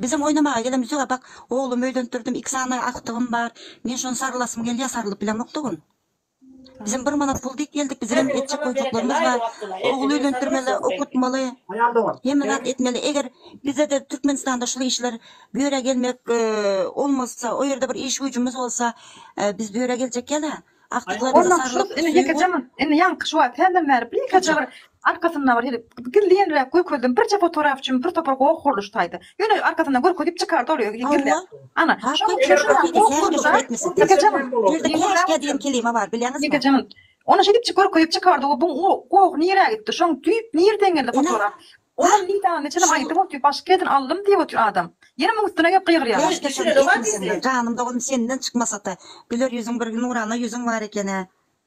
Bizem oýnamaga gelemiz ýok bak oglum öýlendirdim iki sany agtygym bar men şony sarylasym gelýär sarylyp bilemok tugyn. Bizem bir manat pul diýip geldik, bizigem etjek goýjaklarymyz bar. Ogul öýlendirmeli, okatmaly, hemme zat etmeli. Eger bizede Türkmenistanda şul işler böre gelmek olmazsa, o ýerde bir iş-güýjümiz bolsa, biz böre geljek ýa-da agtyklarymyza sarlyk, söýgi. Indi ýaňky şu wagt, senden bäri birnäçe bir Arkasynda bir hili gizlinräk görkezdim. Birje fotograf üçin bir topar goh gurluşsaýdy. Ýöne arkasyndan görkezip çykardy ol özi gizläp. Ana, şonuň üçin şuram goh gurluşsa, Ýekejanym, ýerde käşgä diýen kelime bar, bilýäňizmi? Ýekejanym, ony şeýdip görkezip çykardy we bu goh nirä gitdi? Şoň düýp nireden geldi fotograf? Olam nidany neçenem aýtdy boldy, başga ýerden aldym diýip otyr adam. Ýene muň üstüne gelip gygyrýarlar. Göz geçireni etme senden, janym dogum senden çykmasata, güler ýüzüň bir nurana ýüzüň bar eken-ä.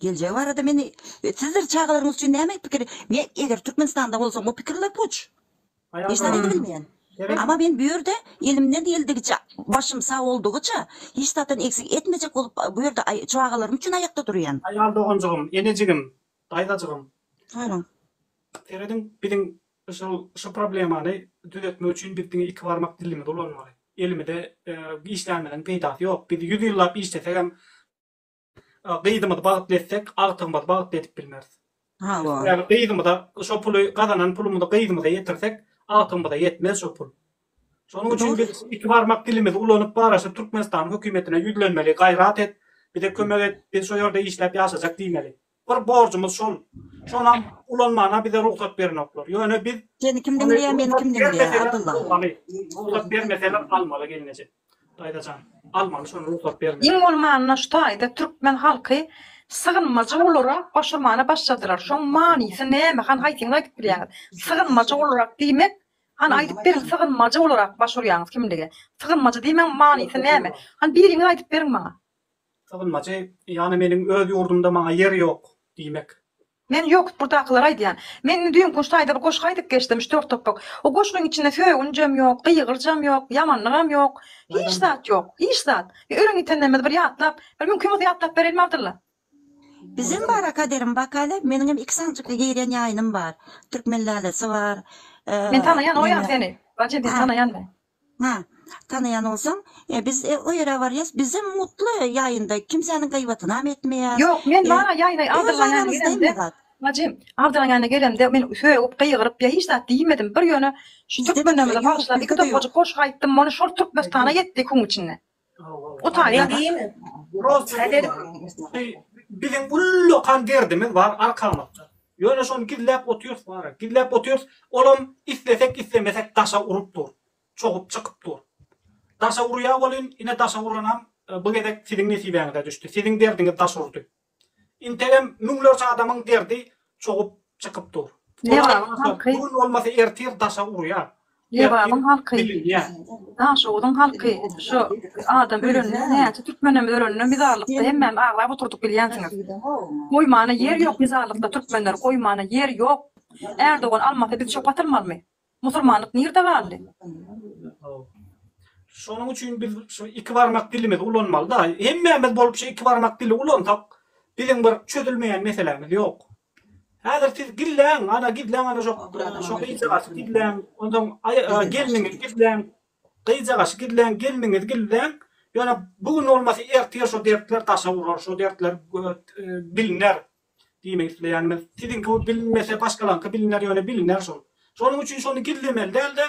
Geljegi barada men sizdir çagalaryňyz üçin näme pikir men eger Türkmenistanda bolsam bu pikirler puç. Hiç zat edip bilmeýän. Ama men bu ýerde elimden geldigiçe başym sag boldugyça hiç zatdan eksik etmejek bolup bu ýerde çagalarym üçin aýakda durýan. Aýal doganjygym, enejigim, daýzajygym. Buyurun. Serediň biziň şol şu problemany düzetmek üçin biz diňe iki barmak dilimizi ulanmaly. Elimize işlänimiziň peýdasy ýok. Biz ýüz ýyllap işlesegem Gyzymyzy bagtly etsek, agtygymyzy bagtly edip bilmeris. Hawa. Ýagny gyzymyza şo puly, gazanan pulumyzy gyzymyza ýetirsek, agtygymyza ýetmez şo pul. Şonuň üçin biz iki barmak dilimizi ulanyp, baraşyp Türkmenistanyň hökümetine ýüzlenmeli, gaýrat et, bize kömek et, biz şo ýerde işläp ýaşajak diýmeli. Bir borjumyz şol. Şonam ulanmana bize rugsat berenoklar. Ýöne biz Seni kim diňleýär, meni kim diňleýär, Abdylla? Rugsat bermeseler almaly gelneje. Daýzajan, almaly şony rugsat bermese. Iň bolmanda şu taýda türkmen halky sygynmajy olara goşamana başladylar. Şoň manysy näme? Han haýsyňyz aýdyp bilýäňiz? Sygynmajy olarak diýmek, han aýdyp beriň sygynmajy olarak baş urýaňyz kimlige? Sygynmajy diýmegiň manysy näme? Han biriňiz aýdyp beriň maňa. Sygynmajy, ýagny meniň öz ýurdumda maňa ýer ýok diýmek. Men ýok, ýurdakylara aýdýan. Men indi düýn guş taýda bir goşgy aýdyp geçdim, üç-dört topbak. O goşgyň içinde sögünjem ýok, gygyryjam ýok, ýamanlygam ýok. Hiç zat ýok, hiç zat. Bir ölen ýitenlerimizi bir ýatlap, bir mümkin bolsa ýatlap berelmi Abdylla? Bizem bar-a kaderim, bakaýla, meniňem iki sanjykly girýän ýaýynym bar. Türkmen lalesi bar. Men tanaýan oýam seni. Bajy, men tanaýan men. Hä, tanaýan bolsaň, e, biz, e, o ýere barýas, bizem mutly ýaýynda, kimsäniň gaýbatynam etmeýäs. Ýok, men E, bar-a ýaýyna öz Abdyllaň ýanyna aramyzda gelemde, hemme zat. Bajym, Abdyllaň ýanyna gelemde, men sögüp, gygyryp, ýa hiç zat diýmedim, bir ýöne, şu Bizde-de türkmenlerimize ýok, bagyşlap, iki bizde-de ýok. topajyk goşgy aýtdym, mony şol Türkmenistana ýetdi iki gün içinde. Utanýa diýme. Biziň ullakan derdimiz bar arkamyzda. Ýöne şony gizläp otyrys bara. Gizläp otyrys. Olam islesek islemesek daşa urup dur. Çogup çykyp dur. Daşa urýa welin ine daşa uranam bu gezek siziň nesibäňize düşdi. Siziň derdiňiz daş urdy. Integem müňlerçe adamyň derdi çogup çykyp dur. Lebabyň halky. Bu gün bolmasa ertir daşa urýa. Lebabyň halky. Daşoguzyň halky. Şu adam ölende näçe türkmenem ölende mizarlykda hemmämiz aglap oturdyk bilýänsiňiz. Goýmana ýer ýok mizarlykda türkmenler goýmana ýer ýok. Ärdogan almasa biz çöp atylmalymy. Musurmanlyk nirde galdy? Şonuň üçin biz şu iki barmak dilimizi ulanmalyda. Hemmämiz bolup şu iki barmak dili ulansak, biziň bir çözülmeýän meselämiz ýok. Häzir siz gizläň, ana gizläň ana şo şo gyzjagazy gizläň, onsoň aý gelniňi gizläň, gyzjagazy gizläň, gelniňizi gizläň, ýöne bu gün bolmasa ertir şo dertler daşa urar, şo dertler biline. Diýmek isleýänim, siziňki bu bilinmese başgalaňky biliner, ýöne biliner şol. Şonuň üçin şony gizlemeli dälde,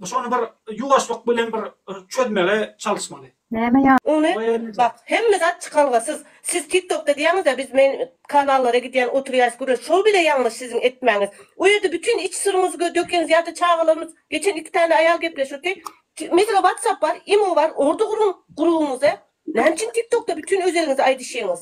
şony bir ýuwaşlyk bilen bir çözmege çalyşmaly. Näme ýa. Ony bak hemme zat çykalgasyz siz tik tokda diýýäňizda biz men kanallara gidýän oturýas göres şol bile ýalňyş siziň etmäňiz o ýerde bütin iç syryňyzy dökeňiz ýa-da çagalarymyz geçen iki täne aýal gepleşirdi mesela whatsapp bar imo bar orda guruň gurugyňyzy näme üçin tik tokda bütin özeliňizi aýdyşyňyz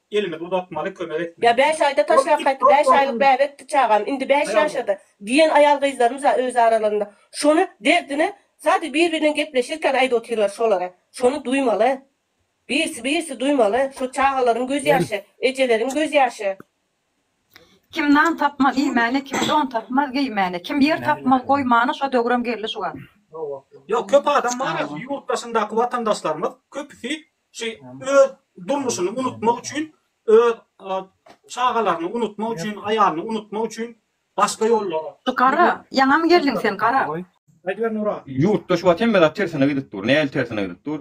Elimizi uzatmaly kömek etmeli. Ýa bäş aýda taşlap gaýtdy, bäş aýlyk bäbekdi çagam, indi bäş ýaşady diýen aýal-gyzlarymyz bar öz aralarynda. Şony derdini sadece biri bilen gepleşirken aýdyp otyrlar şolara. Şony duýmaly. Birisi birisi duýmaly. Şo çagalaryň göz ýaşy, ejeleriň göz ýaşy. Kim nan tapmaz iýmäne, kim don tapmaz geýmäne, kim ýer tapmaz goýmana şo döwrem geldi şu gaz. Ýok köp adam bar ýurt daşyndaky watandaşlarymyz köpüsi Şeý öz durmuşyny unutmak üçin, öz çagalaryny unutmak üçin, aýalyny unutmak üçin başga ýollara. Gara, ýaňam geldiň sen, gara. Aýdyber Nura. Ýurtda şu wagt hemme zat tersine gidip dur. Nähili tersine gidip dur?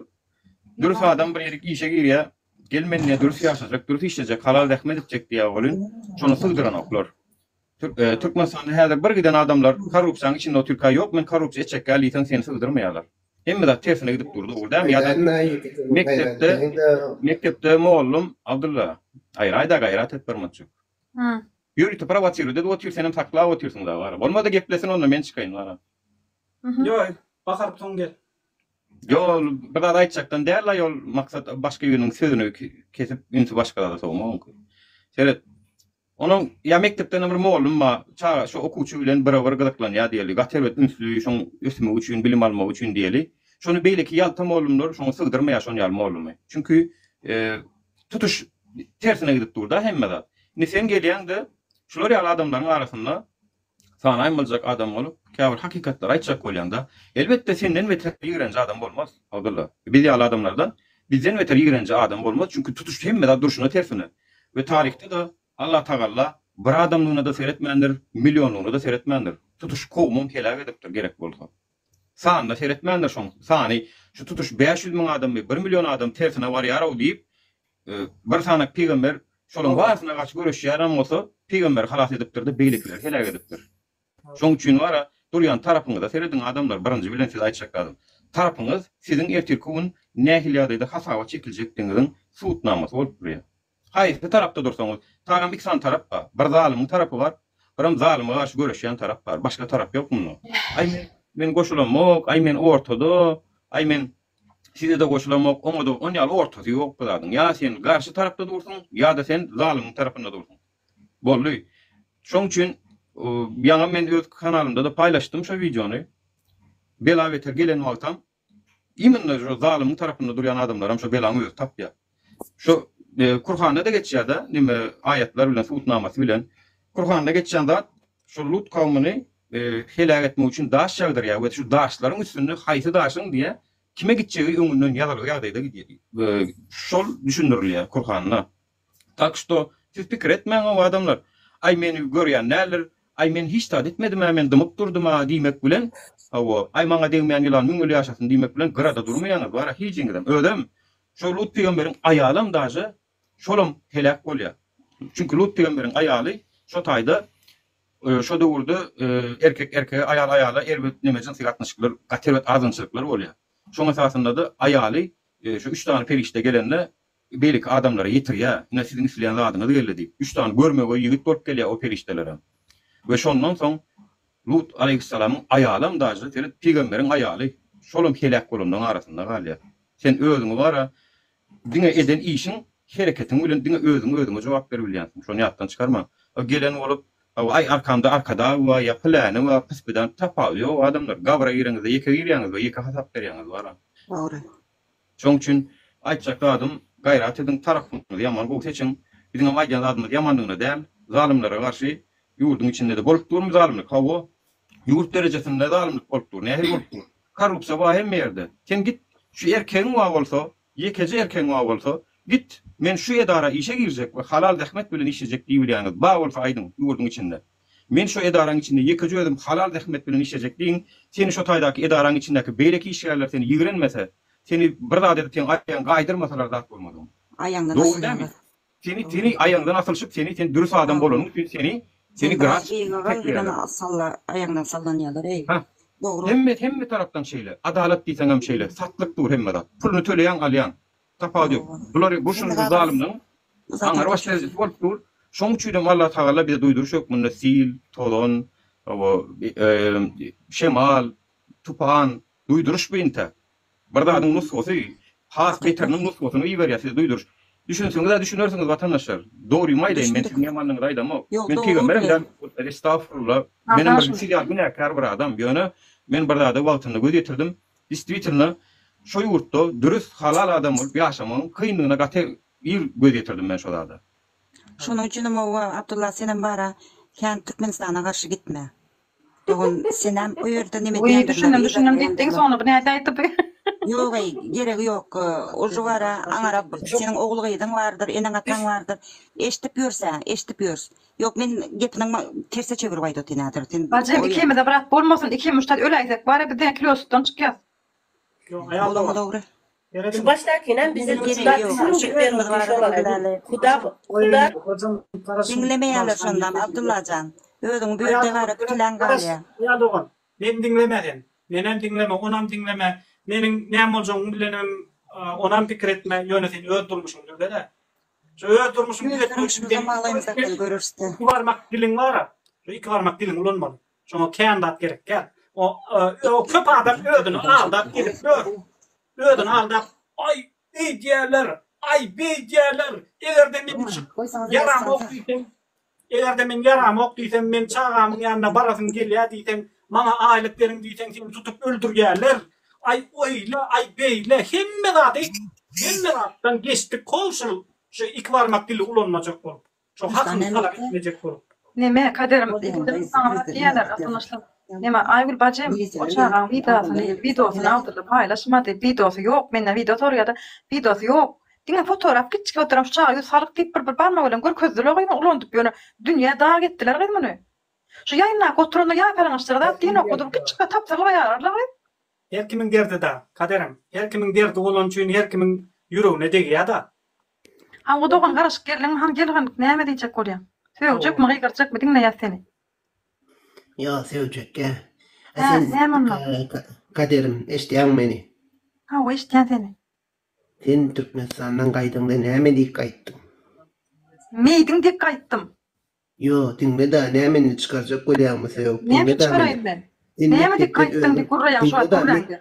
Dürs adam bir ýerik işe girýär, Gel mende dürs ýaşajak, dürs işlejek, halal zähmet etjek diýýär welin, şony sygdyranoklar. E, Türkmenistanda häzir bir giden adamlar korrupsiýanyň içinde otyrka ýok men korrupsiýa etjekgäl diýseň seni sygdyrmaýarlar. Hemme zat tersine gidip dur dogry dämi ýa-da mekdepde mekdepde mugallym Abdylla aýra aýda gaýrat et bir mutçuk. Ha. Ýörite prowosirle dedi otyr senem saklap otyrsyň da bara. Bolmady geplesin onda men çykaýyn bara. Ýoý, bahar tutuň gel. Ýol bir zat aýtjakdan däl la ýol maksat başga biriniň sözüni kesip ünsi başga zada sowmak. Seret Onuň ýa mekdepden bir mollum bar, çaga şo okuwçy bilen birewir gyzyklanýar diýeli, gaty erbet ünsli, şoň ösmegi üçin, bilim almagy üçin diýeli. Şony beýleki ýalta mollumlar şoňa sygdyrmaýar şon ýaly mollumy. Çünki tutuş tersine gidip dur-da hemme zat. Indi sen gelýäň-de, şular ýaly adamlaryň arasynda Sanaýmaljak adam bolup, käbir hakykatlary aýtjak bolýaňda, elbetde, senden beter ýigrenji adam bolmaz, Abdylla. Biz ýaly adamlardan bizden beter ýigrenji adam bolmaz, çünki tutuş hemme zat durşuna tersine. We taryhda-da Allatagalla bir adamlygyna-da seretmändir, millionlygyna-da seretmändir. Tutuş kowumam heläk edipdir, gerek bolsa. Sanyna seretmändir, şoň sany şu tutuş bäş ýüz müň adammy, bir million adam tersine barýar-ow diýip, Bir sanak pygamber şolaryň barysyna garşy göreşýärem bolsa, pygamberi halas edipdir-de, beýlekileri heläk edipdir. Şonuň üçin wara, durýan tarapyňyza serediň adamlar, birinji bilen size aýtjak zadym, tarapyňyz siziň ertirki gün nähili ýagdaýda hasaba çekiljekdigiňiziň subutnamasy bolup durýar. Haýsy tarapda dursaňyz, tagam iki sany tarap bar, bir zalymyň tarapy bar, biram zalyma garşy göreşýän tarap bar, başga tarap ýok munda. Aý men, men goşulamok, aý men ortada, aý men Sizede goşulamok, oňada on ýaly ortasy ýok bu zadyň. Ýa sen garşy tarapda dursuň, ýa-da sen zalymyň tarapynda dursuň. Boldy. Şoň üçin ýaňam men öz kanalymda-da paýlaşdym şo wideony. Bela-beter gelen wagtam, immnno şu zalymyň tarapynda durýan adamlaram şo belaň özi tapýar. Şu Kurhanda-da geçýär-de, neme aýatlar bilen, subutnamasy bilen. Kurhanda geçýän zat, şol Lut kawumyny heläk etmek üçin daş ýagdyrýar we şu daşlaryň üstünde haýsy daşyň diýe, kime gitjegi öňünden ýazylgy ýagdaýda gidýär. Şol düşündirilýär Kurhanda. Tak şto, siz pikir etmäň, o adamlar, Aý, meni görýän däldir, aý, men hiç zat etmedim-ä, men dymyp durdum-a diýmek bilen, hawa, aý, maňa degmeýän ýylan müň ýyl ýaşasyn diýmek bilen gyrada durmaýaňyz, bara, hijiňizem, özem Şo Lut pygamberiň aýalam daže şolam heläk bolýar. Çünki Lut pygamberiň aýaly şo taýda şo döwürde erkek erkege aýal aýala erbet neme jynsy gatnaşyklar gaty erbet azgynçylyklar bolýar. Şoň esasynda-da aýaly şo üç sany perişde gelende beýleki adamlara ýetirýär. Ine siziň isleýän zadyňyz geldi diýip. Üç sany görmegeý ýigit bolup gelýär o perişdelerem. We şondan soň Lut aleýhyssalamyň aýalam daşda seret pygamberiň aýaly şolam heläk bolanlaň arasynda galýar. Sen özüňi bara diňe eden işiň hereketiň bilen diňe özüňe özüňe jogap ber bilýänsiň şony ýatdan çykarma. A gelen bolup a aý arkamda arkadag bar ýa pyläni bar pyspydan tapawudy ýok adamlar gabra gireňizde ýeke girýäňiz we ýeke hasap berýäňiz bara. Dogry. Şoň üçin aýtjak zadym, gaýrat ediň, tarapyňyzy ýaman gowy seçiň. Biziňem aýdýan zadymyz ýamanlygyna däl, zalymlara garşy ýurduň içinde-de bolup durmy zalymlyk? Hawa, ýurt derejesinde zalymlyk bolup dur, nähili bolup dur? Korrupsiýa bar hemme ýerde. Sen git, şu erkegiň bar bolsa, ýekeje erkegiň bar bolsa, git, men şu edara işe girjek we halal zähmet bilen işlejek diýibilýäniňiz bar bolsa aýdyň, ýurduň içinde. Men şu edaraň içinde ýekeje özüm halal zähmet bilen işlejek diýiň, seni şu taýdaky edaraň içindäki beýleki işgärler seni ýigrenmese, seni bir zat edip seň aýagyňy gaýdyrmasalar zat bolmadygyň. Aýaňdan Dogry dämi? asylýarlar. Seni seni aýaňdan asylyşyp seni sen dürs adam Hawa. bolanyň üçin seni Sen seni biraz grafik ýyga gal hemen çekmeýärler. salla aýaňdan sallanýarlar eý. Hah. Dogry. Hemme hemme tarapdan şeýle. Adalat diýseňem şeýle. Satlyk dur hemme zat. Puluny töleýäň alýaň. Tapawudy ýok. Bulary bu şunly zalymlygyň aňňar baş derejesi bolup dur. Şoň üçinem Allah Tagala bize duýduryş hökmünde sil, tozan, o, şemal, tupan, duýduryş bu intä. Bir zadyň nusgasy, has beteriniň nusgasyny iberýär size duýduryş. Düşünseňiz-ä düşünersiňiz watandaşlar. Dorymy aýdaýyn, men siziň ýamanlygyňyzy aýdamok. Men pygamberem däl, estagfurullah. Menem bir siz ýaly günäkär bir adam. Ýöne men bir zada wagtynda göz ýetirdim. Distwitelno, şo ýurtda dürüst, halal adam bolup ýaşamagyň kynlygyna gaty ir göz ýetirdim men şo zada. Şonuň üçinem howwa, Abdulla senem bara kän Türkmenistana garşy gitme. Dogan senem o ýerde neme diýendir. Wiý, düşündim, düşündim diýipdiň, soňra bu nädip aýtdy? Ýog-eý, geregi ýok. Ol şu bara aňarap, seniň ogul-gyzyň bardyr, eneň-ataň bardyr. Eşdip ýörs-ä, eşdip ýörs. Ýok men gepiniň terse çevirip aýdaty näder sen. Bajym ikimize brat bolmasyn iki muştat öläýsek bara biz diňe kilo sütden çykýas. Ýok aýal da bar. Şu başdakynam bize muştat üçin bermedi şolara huda huda. Diňlemeýäler şondam Abdullajan özüň bu ýerde gara bitiläň galýa. Aýal dogan meni diňleme sen menem diňleme onam diňleme meniň näme boljagymy bilenem onam pikir etme ýöne sen öz durmuşyňy düzedä Ýöne garaşymyza maglaýmyz aklyly görersde. Iki barmak diliň bara. Şu iki barmak diliňi ulanmaly. Şoňa kän zat gerek däl. O o köp adam özüni aldap gezip ýör. Özüni aldap, Aý, eýdýärler, aý, beýdýärler, eger-de men çykyp ýaramok diýsem, Eger-de men ýaramok diýsem, meň çagamyň ýanyna barasym gelýär diýseň, maňa aýlyk beriň diýseň, seni tutup öldürýärler. Aý, oýle, aý, beýle, hemme zady, hemme zatdan geçdik, hol şul, şu iki barmak dili ulanmajak bolup, şo hakyny talap etmejek bolup. Neme, Kadyr, indi saňa diýerler, ýatymyşlyk. Neme Aýgül bajym o çagaň widasyny widosyny awtorda paýlaşmady widosy ýok menden wido soraýada widosy ýok diňe fotoraf kiçi fotoram şu çaga ýüz salyk diýip bir bir barmak bilen görkezdiler gyz muny ulandyp ýöne dünýä dag etdiler gyz muny şu ýaýynlap oturanda ýaýpalaňaçlara zat diýen ýokdy bu kiçi gyz tapsyrly baýararly gyz. Her kimiň derdi da, kaderem. Her kimiň derdi bolany üçin her kimiň ýüregine degýä da. Hawa dogan garaşyk geldiňmi hany gel hany näme diýjek bolýaň? Sögjekmi gygyrjakmy diňleýäs seni. Ýa söýjekkä. Hä, näme onda? Kaderim, eşidýäňmi meni? Hawa, eşidýän seni. Sen Türkmenistandan gaýdyňda näme diýip gaýtdyň? Meýdiň diýip gaýtdym. Ýo, diňle-de, näme indi çykarjak bolýaňmy sög, diňle-de meni. Näme diýip gaýtdyň diýip gürleýäň şuwagt gürrüňde.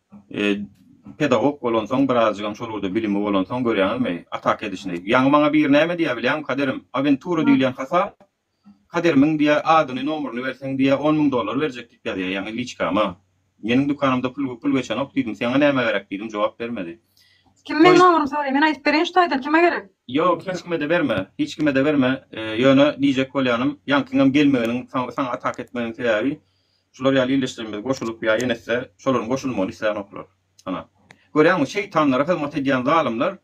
Pedagog bolansoň birazjygam şol ugurda bilimi bolansoň görýäňizmi atak edişini. Ýaňy maňa biri näme diýýär bilýäňmi Kaderim, awentura diýilýän hasap, Kaderimiň diýýär adyny nomuryny berseň diýýär on müň dollar berjek diýip ýazýar ýaňy liçkama. Meniň dükanymda pul pul geçenok diýdim seňa näme gerek diýdim jogap bermedi. Kim meň nomurymy soraýa men aýdyp bereýin şu taýdan kime gerek. Ýok hiç kimede berme hiç kimede berme ýöne diýjek bolýanym ýaňkyňam gelmeginiň saňa atak etmeginiň sebäbi Şular ýaly ildeşlerimiz goşulyp ýa ýenesse şolaryň goşulmagyny isläňoklar. Ana, görýäňmi, şeýtanlara hyzmat edýän zalymlar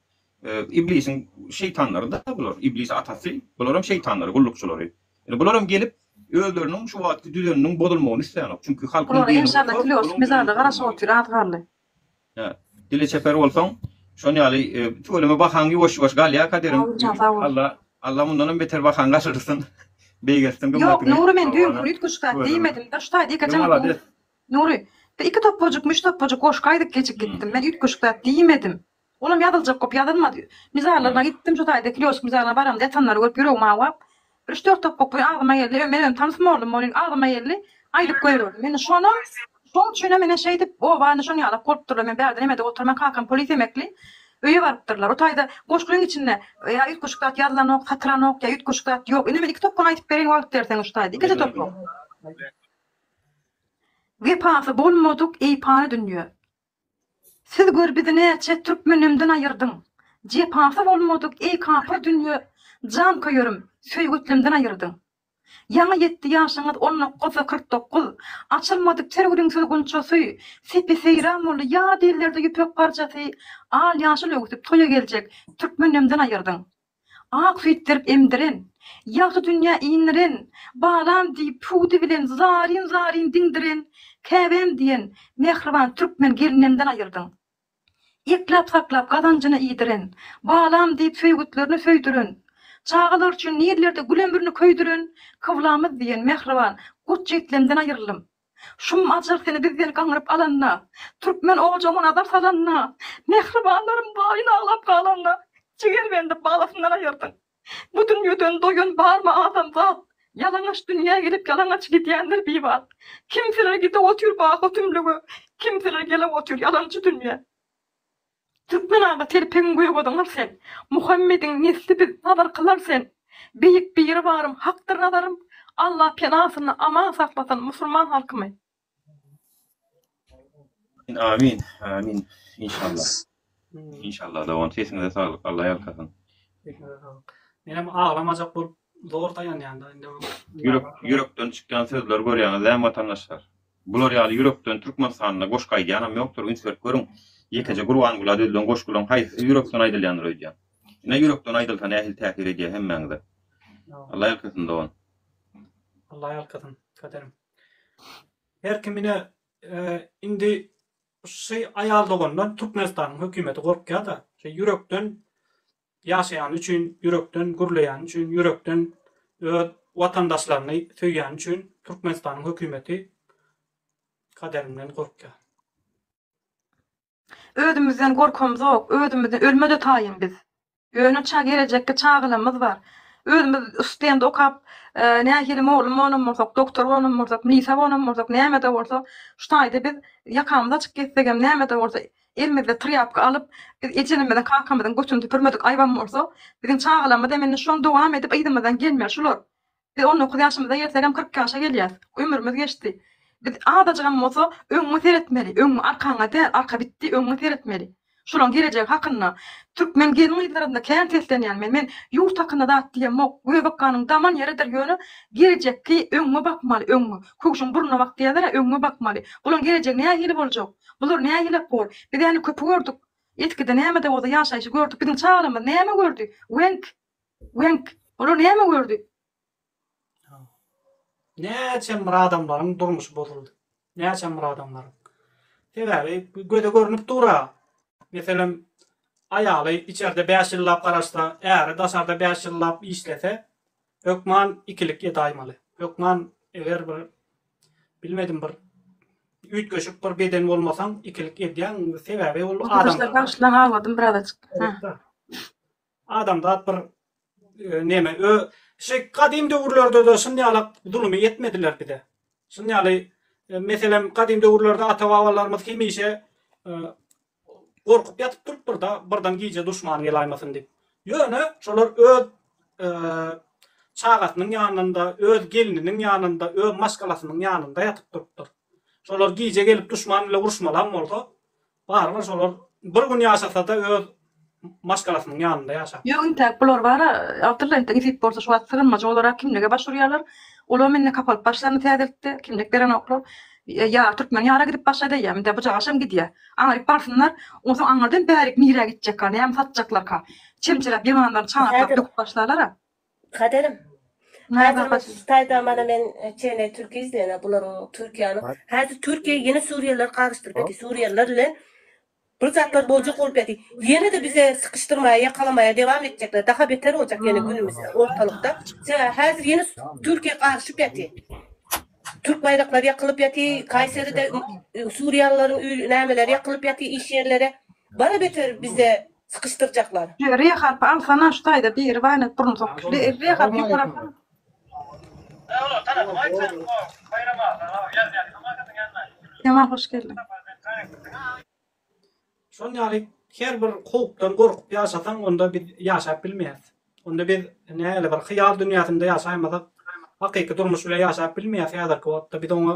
Iblisiň şeýtanlary-da bular. Iblis atasy, bularam şeýtanlary, gullukçylary. Ine, bularam gelip, özleriniň şu wagtky düzeniniň bozulmagyny isläňok. Çünki halkyň Bulara enşalla filosofimiz-ä-de garaşyp otyr, az galdy. Hä. Dili çeper bolsaň, şon ýaly tüweleme bahaň ýuwaş-ýuwaş galýar kaderiň. Alla Alla mundanam beter bahaň galyrsyn. Beýgeltsin gymmatyňy. Ýok, Nury men düýn hurýt küşgäp diýmedim. Bir ştaý diýkä jaň. Nury, bir iki topajyk, müş topajyk goşgaýdyk gecik gitdim. Men üýt küşgäp diýmedim. Olam ýazyljak köp ýazylmady. Mizarlaryna gitdim, şu taýda Kiliosk mizarlygyna baramda ýatanlary görüp ýüregim awap, bir üç-dört topbak boýy agzyma geldi. Öý, men özüm tanys mollum bolýn, agzyma geldi, aýdyp goýberdim. Indi şonam, şoň üçinem ine şeýdip, oba indi şoň ýalak bolupdyrlar. Men bärde nemede oturman, kakam polis emekli, öýe barypdyrlar. O taýda goşgyň içinde ýa üýtgeşik zat ýazylanok, satylanok, ýa üýtgeşik zat ýok. Indi men iki topbagyny aýdyp bereýin, wagt berseňiz şu taýda. Ikide topbak. Wepasy bolmadyk eýpany dünýe. Siz gör bizi näçe türkmenemden aýyrdyň Jepasy bolmadyk eý kapyr dünýe Janköýerim söýgetlemden aýyrdyň Ýaňy ýetdi ýaşyňyz on nokgyz kyrk dokgyz Açylmadyk ter gülüňsiz gunçasy Sepi-seýran boldy ýad ellerde ýüpek parçasy Al ýaşyl öwsüp toýa geljek türkmenemden aýyrdyň Ak süýt berip emdiren. Ýagty dünýä indiren. Balam diýip, pudy bilen zaryn-zaryn diňdiren, Käbäm diýen, mähriban türkmen gelnemden aýyrdyň. Ekläp-saklap, gazanjyna iýdiren. Balam diýip, söýgütlerini söýdüren. Çagalar üçin nirlerde gül ömrüni köýdüren, Kyblamyz diýen, mähriban, gurt-jitlemden aýyrldym. Şum ajyr seni bizden gaňryp alanda, Türkmen ojagyma nazar salanda, Mähribanlarym baýyn aglap galanda, Jigerbendi balasyndan aýyrdyň. Bu dünýeden doýan barmy adamzat, Ýalaňaç dünýä gelip ýalaňaç gidýändir bibat. Kimseler gidip otyr baky tümlüge, Kimseler gelip otyr ýalançy dünýä. Türkmen aga terpegiň göýgodyňam sen, Muhammediň nesli biz, nazarkylar sen. Beýik Biribarym hakdyr nazarym, Allah pena asynda aman saklasyn musulman halkymy. Amin amin inşallah inşallah dogan sesiňize saglyk Allah ýalkasyn. Sesiňize saglyk. Menem aglamajak bolup zor daýanýan da indi. Ýürek ýürekden çykýan sözler görýäňiz dämi watandaşlar. Bular ýaly ýürekden Türkmenistanda goşgy aýdýanam ýokdur üns berip görüň ýekeje Gurbangula düzlen goşgulaň haýsysy ýürekden aýdylýandyr öýdýän. Ine ýürekden aýdylsa nähili täsir edýä hemmäňize. Alla ýalkasyn dogan. Alla ýalkasyn Kaderim. Her kim ine indi şy aýal dogandan Türkmenistanyň hökümeti gorkýada şe ýürekden ýaşaýany üçin, ýürekden gürleýäni üçin, ýürekden öz watandaşlaryny söýýäni üçin Türkmenistanyň hökümeti kaderinden gorkýar. Özümizden gorkymzok, özümizi ölmede taýyn biz. Ýöne çag gelejekki çagalamyz bar. Özümiz stend okap nähili mugallym bolanam bolsak, doktor bolanam bolsak, milisa bolanam bolsak, nämede bolsa şu taýda biz ýakamyz açyk gezsegem, nämede bolsa Elimizde trýapka alyp, biz ejenimiziň, kakamyzyň götüni süpürmedik aýybam bolsa, biziň çagalarymyz hem indi şony dowam edip yzymyzdan gelmeli şular. Biz on dokuz ýaşymyza ýetsegem kyrk ýaşa gelýäs. Ömrümiz geçdi. Biz azajygam bolsa öňňe seretmeli, öňňe arkaňa däl, arka bitdi, öňňe seretmeli. Şularyň gelejegi hakynda türkmen gelin-gyzlarynda kän seslenýän men, men ýurt hakynda zat diýemok, göbekganyň daman ýeridir ýöne gelejekki öňňe bakmaly, öňňe. Köwşüň burnuna bak diýerler-ä öňňe bakmaly. Bularyň gelejegi nähili boljak? Bular nägilek bor. Biz äni köpi gördük. Etkide nämede bolsa ýaşaýşy gördük. Biziň çagalarymyz näme gördi? Weňk. Weňk. Olar näme gördi? Näçe bir adamlaryň durmuşy bozuldy. Näçe bir adamlaryň. Sebäbi göze görnüp dur-a. Meselem, aýaly içerde bäş ýyllap garaşsa, äri daşarda bäş ýyllap işlese, Hökman ikilik edaýmaly. Hökman eger bir bilmedim bir üýtgeşik bir beden bolmasaň ikilik edýäň sebäbi ol adam. Bagşylaň awazym biraz açyk. Adamda bir e, neme ö şey kadym döwürlerde de şunday ýaly zulmy etmediler bize. Şunday ýaly e, meselem kadym döwürlerde ata babalarymyz hemişe e, Gorkup ýatyp turupdyr-da, birden gije duşmany gelaýmasyn diýip. Ýöne şolar öz çagasynyň ýanynda, öz gelniniň ýanynda, öz maşgalasynyň ýanynda ýatyp durupdyr. Şolar gije gelip duşman bile uruşmalam bolsa, barybir şolar bir gün ýaşasa-da öz maşgalasynyň ýanynda ýaşap. Ýok intäk bular bara awtorlar entek izip bolsa şu wagt sygynmajy olara kimlige baş urýarlar olam indi kapalyp başlaryny täzeltdi kimlik berenoklar ýa türkmen ýara gidip başla däýýäm indi bujagaşam gidýä aňryk barsynlar onsoň aňyrdan bärik nirä gitjekka näme satjaklarka çemçeläp ýylanlaryny çaňaklap döküp başlalara. Kaderim Häzir bu taýda mana men çene türki izleýän bularyň türkiýanyň häzir türkiýe ýene suriýeliler gagyşdyryp eki suriýeliler bilen Bir zatlar boljak bolup ýaty. Ýene-de bize sykyşdyrmaýa ýakalamaýa dewam etjekler. Daha beter boljak ýene günümiz ortalykda. Sebäbi häzir ýene Türkiýe garyşyp ýaty. Türk baýraklary ýakylyp ýaty. Kaýseride suriýalylaryň öýli nämeleri ýakylyp ýaty iş ýerleri. Bara beter bize sykyşdyrjaklar. Ýöre harpy alsana şu taýda biri baýnak burun sokuşly erre harpy ýokarakdan. Şol ýaly her bir howpdan gorkup ýaşasaň, onda biz ýaşap bilmeýäs. Onda biz nähili bir hyýal dünýäsinde ýaşaýmasak, hakyky durmuş bile ýaşap bilmeýäs häzirki wagtda. Biz oňa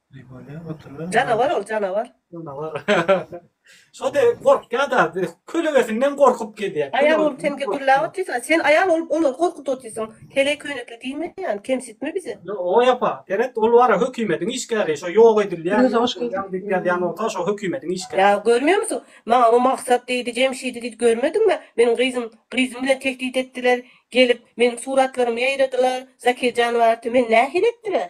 Janawar ol janawar. Şo de gorkýar da, kölegesinden gorkup gelýär. Aýal bolup sen gürläp otyrsyň, sen aýal bolup olary gorkup otyrsyň. Heleý köýnekli diýme ýaly, kemsitme bizi. Oý apa, seret, ol bara hökümediň işgäri, şo ýok edilýär. Özüňe hoş geldi. Ýaňy diýip ýazýan bolsa, şo hökümediň işgäri. Ýa görmeýärmisoň, maňa o Maksat diýdi, Jemşidi diýdi, görmediňmi? Meniň gyzym, gyzym bilen tehdit etdiler, gelip, meniň suratlarymy ýaýradylar, Zakirjan barty, meni nähili etdiler?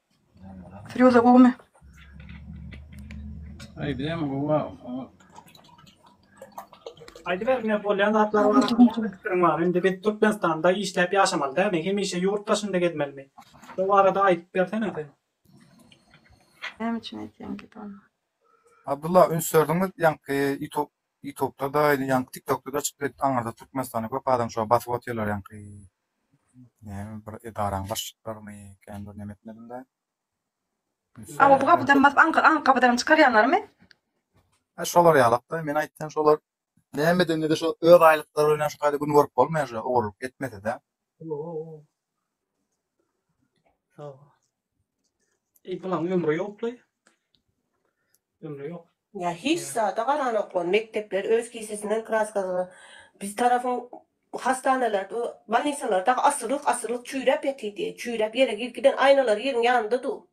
Firýuza gowumy? Aýdýan gowa. Aýdyber ne bolýan zatlar bar. Fikriň bar. Indi biz Türkmenistanda işläp ýaşamaly dämi? Hemişe ýurt daşynda gezmelimi? Bu barada aýdyp bersene sen. Näme üçin aýtýaň ki ony? Abdulla üns berdiňiz ýaňky ýutub ýutubda-da ýaňky tiktokda-da çykyp ýet aňyrda Türkmenistanda köp adam şo basyp otyrlar ýaňky Näme bir edaraň başlyklarymy kän bir neme etmedim-de. A bu gapydan basyp aňka aňk gapydan çykarýanlarymy? Hä şolar ýalak-da. Men aýtsam şolar näme edende-de şo öz aýlyklary bilen şu taýda gün görüp bolmaýar şo ogurlyk etmese-de. Hawa. E, bulan ömri yokly. Ömri yok. Ya hiç zada garan oklar, mekdepler öz kisesinden kraskazyny. Biz tarafyn hastaneler, bolnisalar da asyrlyk asyrlyk çüyrep yatidi. Çüyrep yere girip giden aynalar yerin yanında du.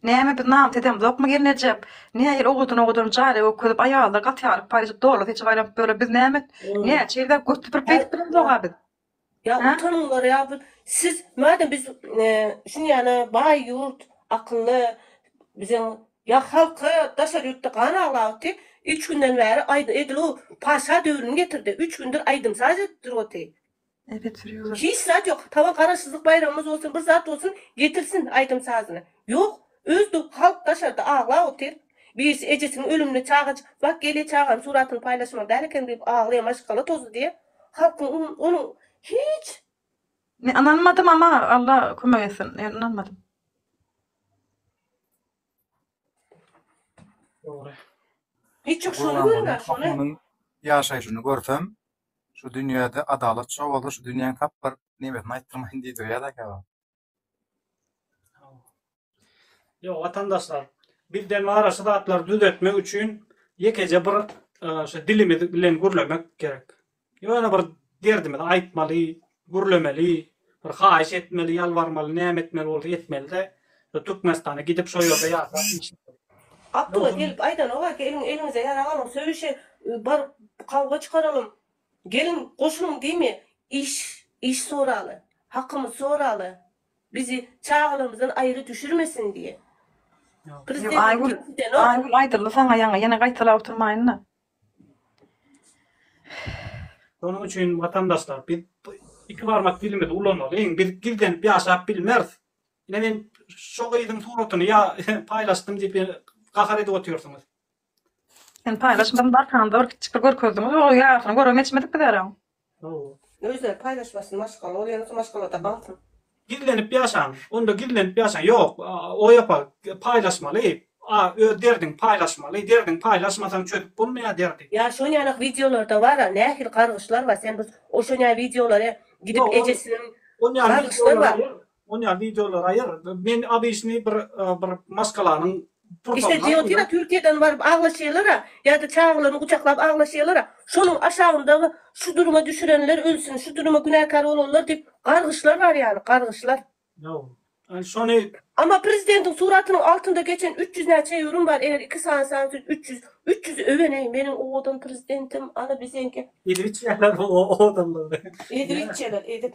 Näme biz namus edemzokmy gelnejek? Nähili owadan owadan jare gökezip aýallar gaty ýaryp paýlaşyp doly seçip aýlanyp ýöre biz näme näçe ýerde göt süpürip geýdip bilemzoga biz. Ýa utanyňlar ýa bir siz madem biz şunýana baý ýurt akylly biziň ýa halka daşary ýurtda gan aglabyty üç günden bäri aýdym edil u paşa döwrüni getirdi üç gündür aýdym saz edip dur oty hiç zat ýok tabyn garaşsyzlyk baýramymyz bolsun bir zat bolsun getirsin aýdym sazyny ýok öz halk daşarda aglap otyr birisi ejesiniň ölümini çagajyk bak gelýä çagam suratyny paýlaşmaly däl eken diýip aglaýa maşgala tozy diýip Hat onuň hiç. Men ynanmadym ama Alla kömek etsin men ynanmadym. Dogry. Hiç yok şony görme şony. Yaşayşyny görsem şu dünyede adalat şo bolsa şu dünyanın tap bir nemesini aytdyrmayın diýdirýär-dä kebap. Ýok, watandaşlar, bizde bar şu zatlary düzetmek üçin ýekeje bir şu dilimiz bilen gürlemek gerek. Ýöne bir derdimizi aýtmaly, gürlemeli, bir haýyş etmeli, ýalbarmaly, näme etmeli bolsa etmeli-de, şu Türkmenistana gidip şo ýerde ýaşap iş etmeli. Abdylla gelip aýdanok-a, geliň, eliňize ýarag alyň, söýüşe baryp kawga çykaralym, Gelin goşulyň diýme iş iş soraly hakymyz soraly bizi çagalarymyzdan aýry düşürmesin diýe prezident Aýgül Aýgül aýdyldy saňa ýaňy ýene gaýtalap oturmaýynda. Şonuň üçin watandaşlar biz iki barmak dilimizi ulanmalyň biz gizlenip ýaşap bilmeris. Ine men şo gyzyň suratyny ýa paýlaşdym diýip ýene gahar edip otyrsyňyz. Sen paýlaşmadyň bar sanda bir kiçikde görkezdiňiz ol ýaşyny görem etişmedik biz erem. Özleri paýlaşmasyn maşgala ol ýene maşgalada batyr. Gizlenip ýaşaň onda gizlenip ýaşaň ýok oý opa paýlaşmaly a öz derdiňi paýlaşmaly derdiňi paýlaşmasaň çözüp bolmaýa derdi. Ýa şonýanak wideolarda bara nähili gargyşlar bar sen biz o şonýa wideolary gidip ejesiniň gargyşlar bar. Onýa videolar aýyr. Men obyçnyý bir bir maşgalanyň Işte Diotina Türkiýeden baryp aglaşýalara ýa-da çagalaryny gujaklap aglaşýalara şonuň aşagyndagy şu duruma düşürenler ölsün şu duruma günäkär bolanlar diýip gargyşlar bar ýaly gargyşlar. Ýok. Şony. Amma prezidentiň suratynyň altynda geçen üç ýüz näçe ýörüm bar eger iki sany san siz üç ýüz üç ýüzi öweneý meniň owadan prezidentim ana biziňki. Edibitjeler owadanlygyny. Edibitjeler edip.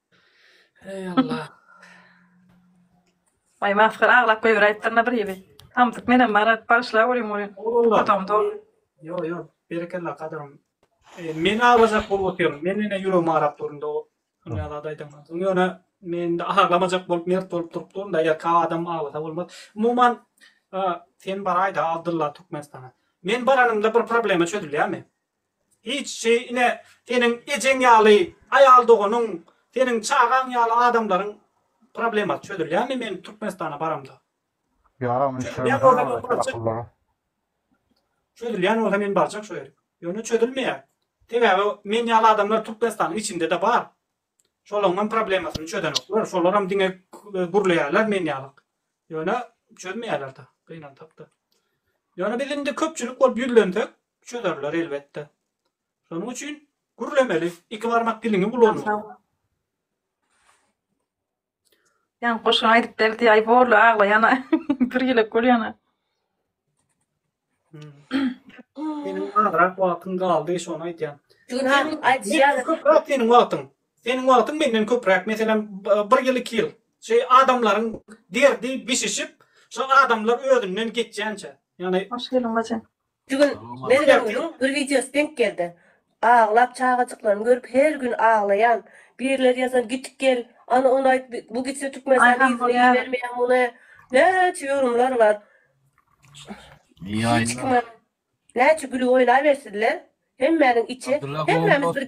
Eý Allah. Aý masgara aglap goýber aýtdyryna bir ýyly. Samsyk menem bar aýt bagyşla görýin görýin. Otam dol. Ýok ýok berekella gadyrym. Men aglajak bolup otyryn. Men ine ýüregim agrap durynda o Nýazada aýdandan soň. Ýöne men indi aglamajak bolup mert bolup durup duryn da eger ka adam aglasa bolmaz. Umuman sen baraýda Abdylla Türkmenistana. Men baranymda bir problema çözülýärmi? Hiç şeý ine, seniň ejeň ýaly aýal doganyň, seniň çagaň ýaly adamlaryň problemasy çözülýärmi men Türkmenistana baramda? Ýaram Çözülýän bolsa men barjak. Çözülýän bolsa men barjak şo ýere. Ýöne çözülmeýär. Sebäbi men ýaly adamlar Türkmenistanyň içinde-de bar. Şolaňam problemasyny çözenoklar. Şolaram diňe gürleýärler men ýaly. Ýöne çözmeýärler-de, gynansak-da. Ýöne biz indi köpçülik bolup ýüzlensek, Çözerler elbetde. Şonuň üçin gürlemeli, iki barmak diliňi ulanmaly. Ýan goşgy aýdyp berdi, aý borly aglaýana, bir ýelek bolýana. Seniň azrak wagtyň galdy, şony aýdýan. Günäm aýdýan. Köpräk seniň wagtyň. Seniň wagtyň menden köpräk. Meselem, bir ýyl, iki ýyl. Şu adamlaryň derdi bişişip, şu adamlar özünden geçýänçä. Ýagny Hoş geldiň bacym. Şu gün Mergengulyň bir wideosy denk geldi. Aglap çagajyklaryny görüp her gün aglaýan. Birler ýazan git gel, ana ony aýt bu gitse Türkmenistana yzyny ibermeýär muny. Näçe ýorumlar bar. Hiç kime näçe gülüp oýnabersinler. Hemmäniň içi hemmämiz bir.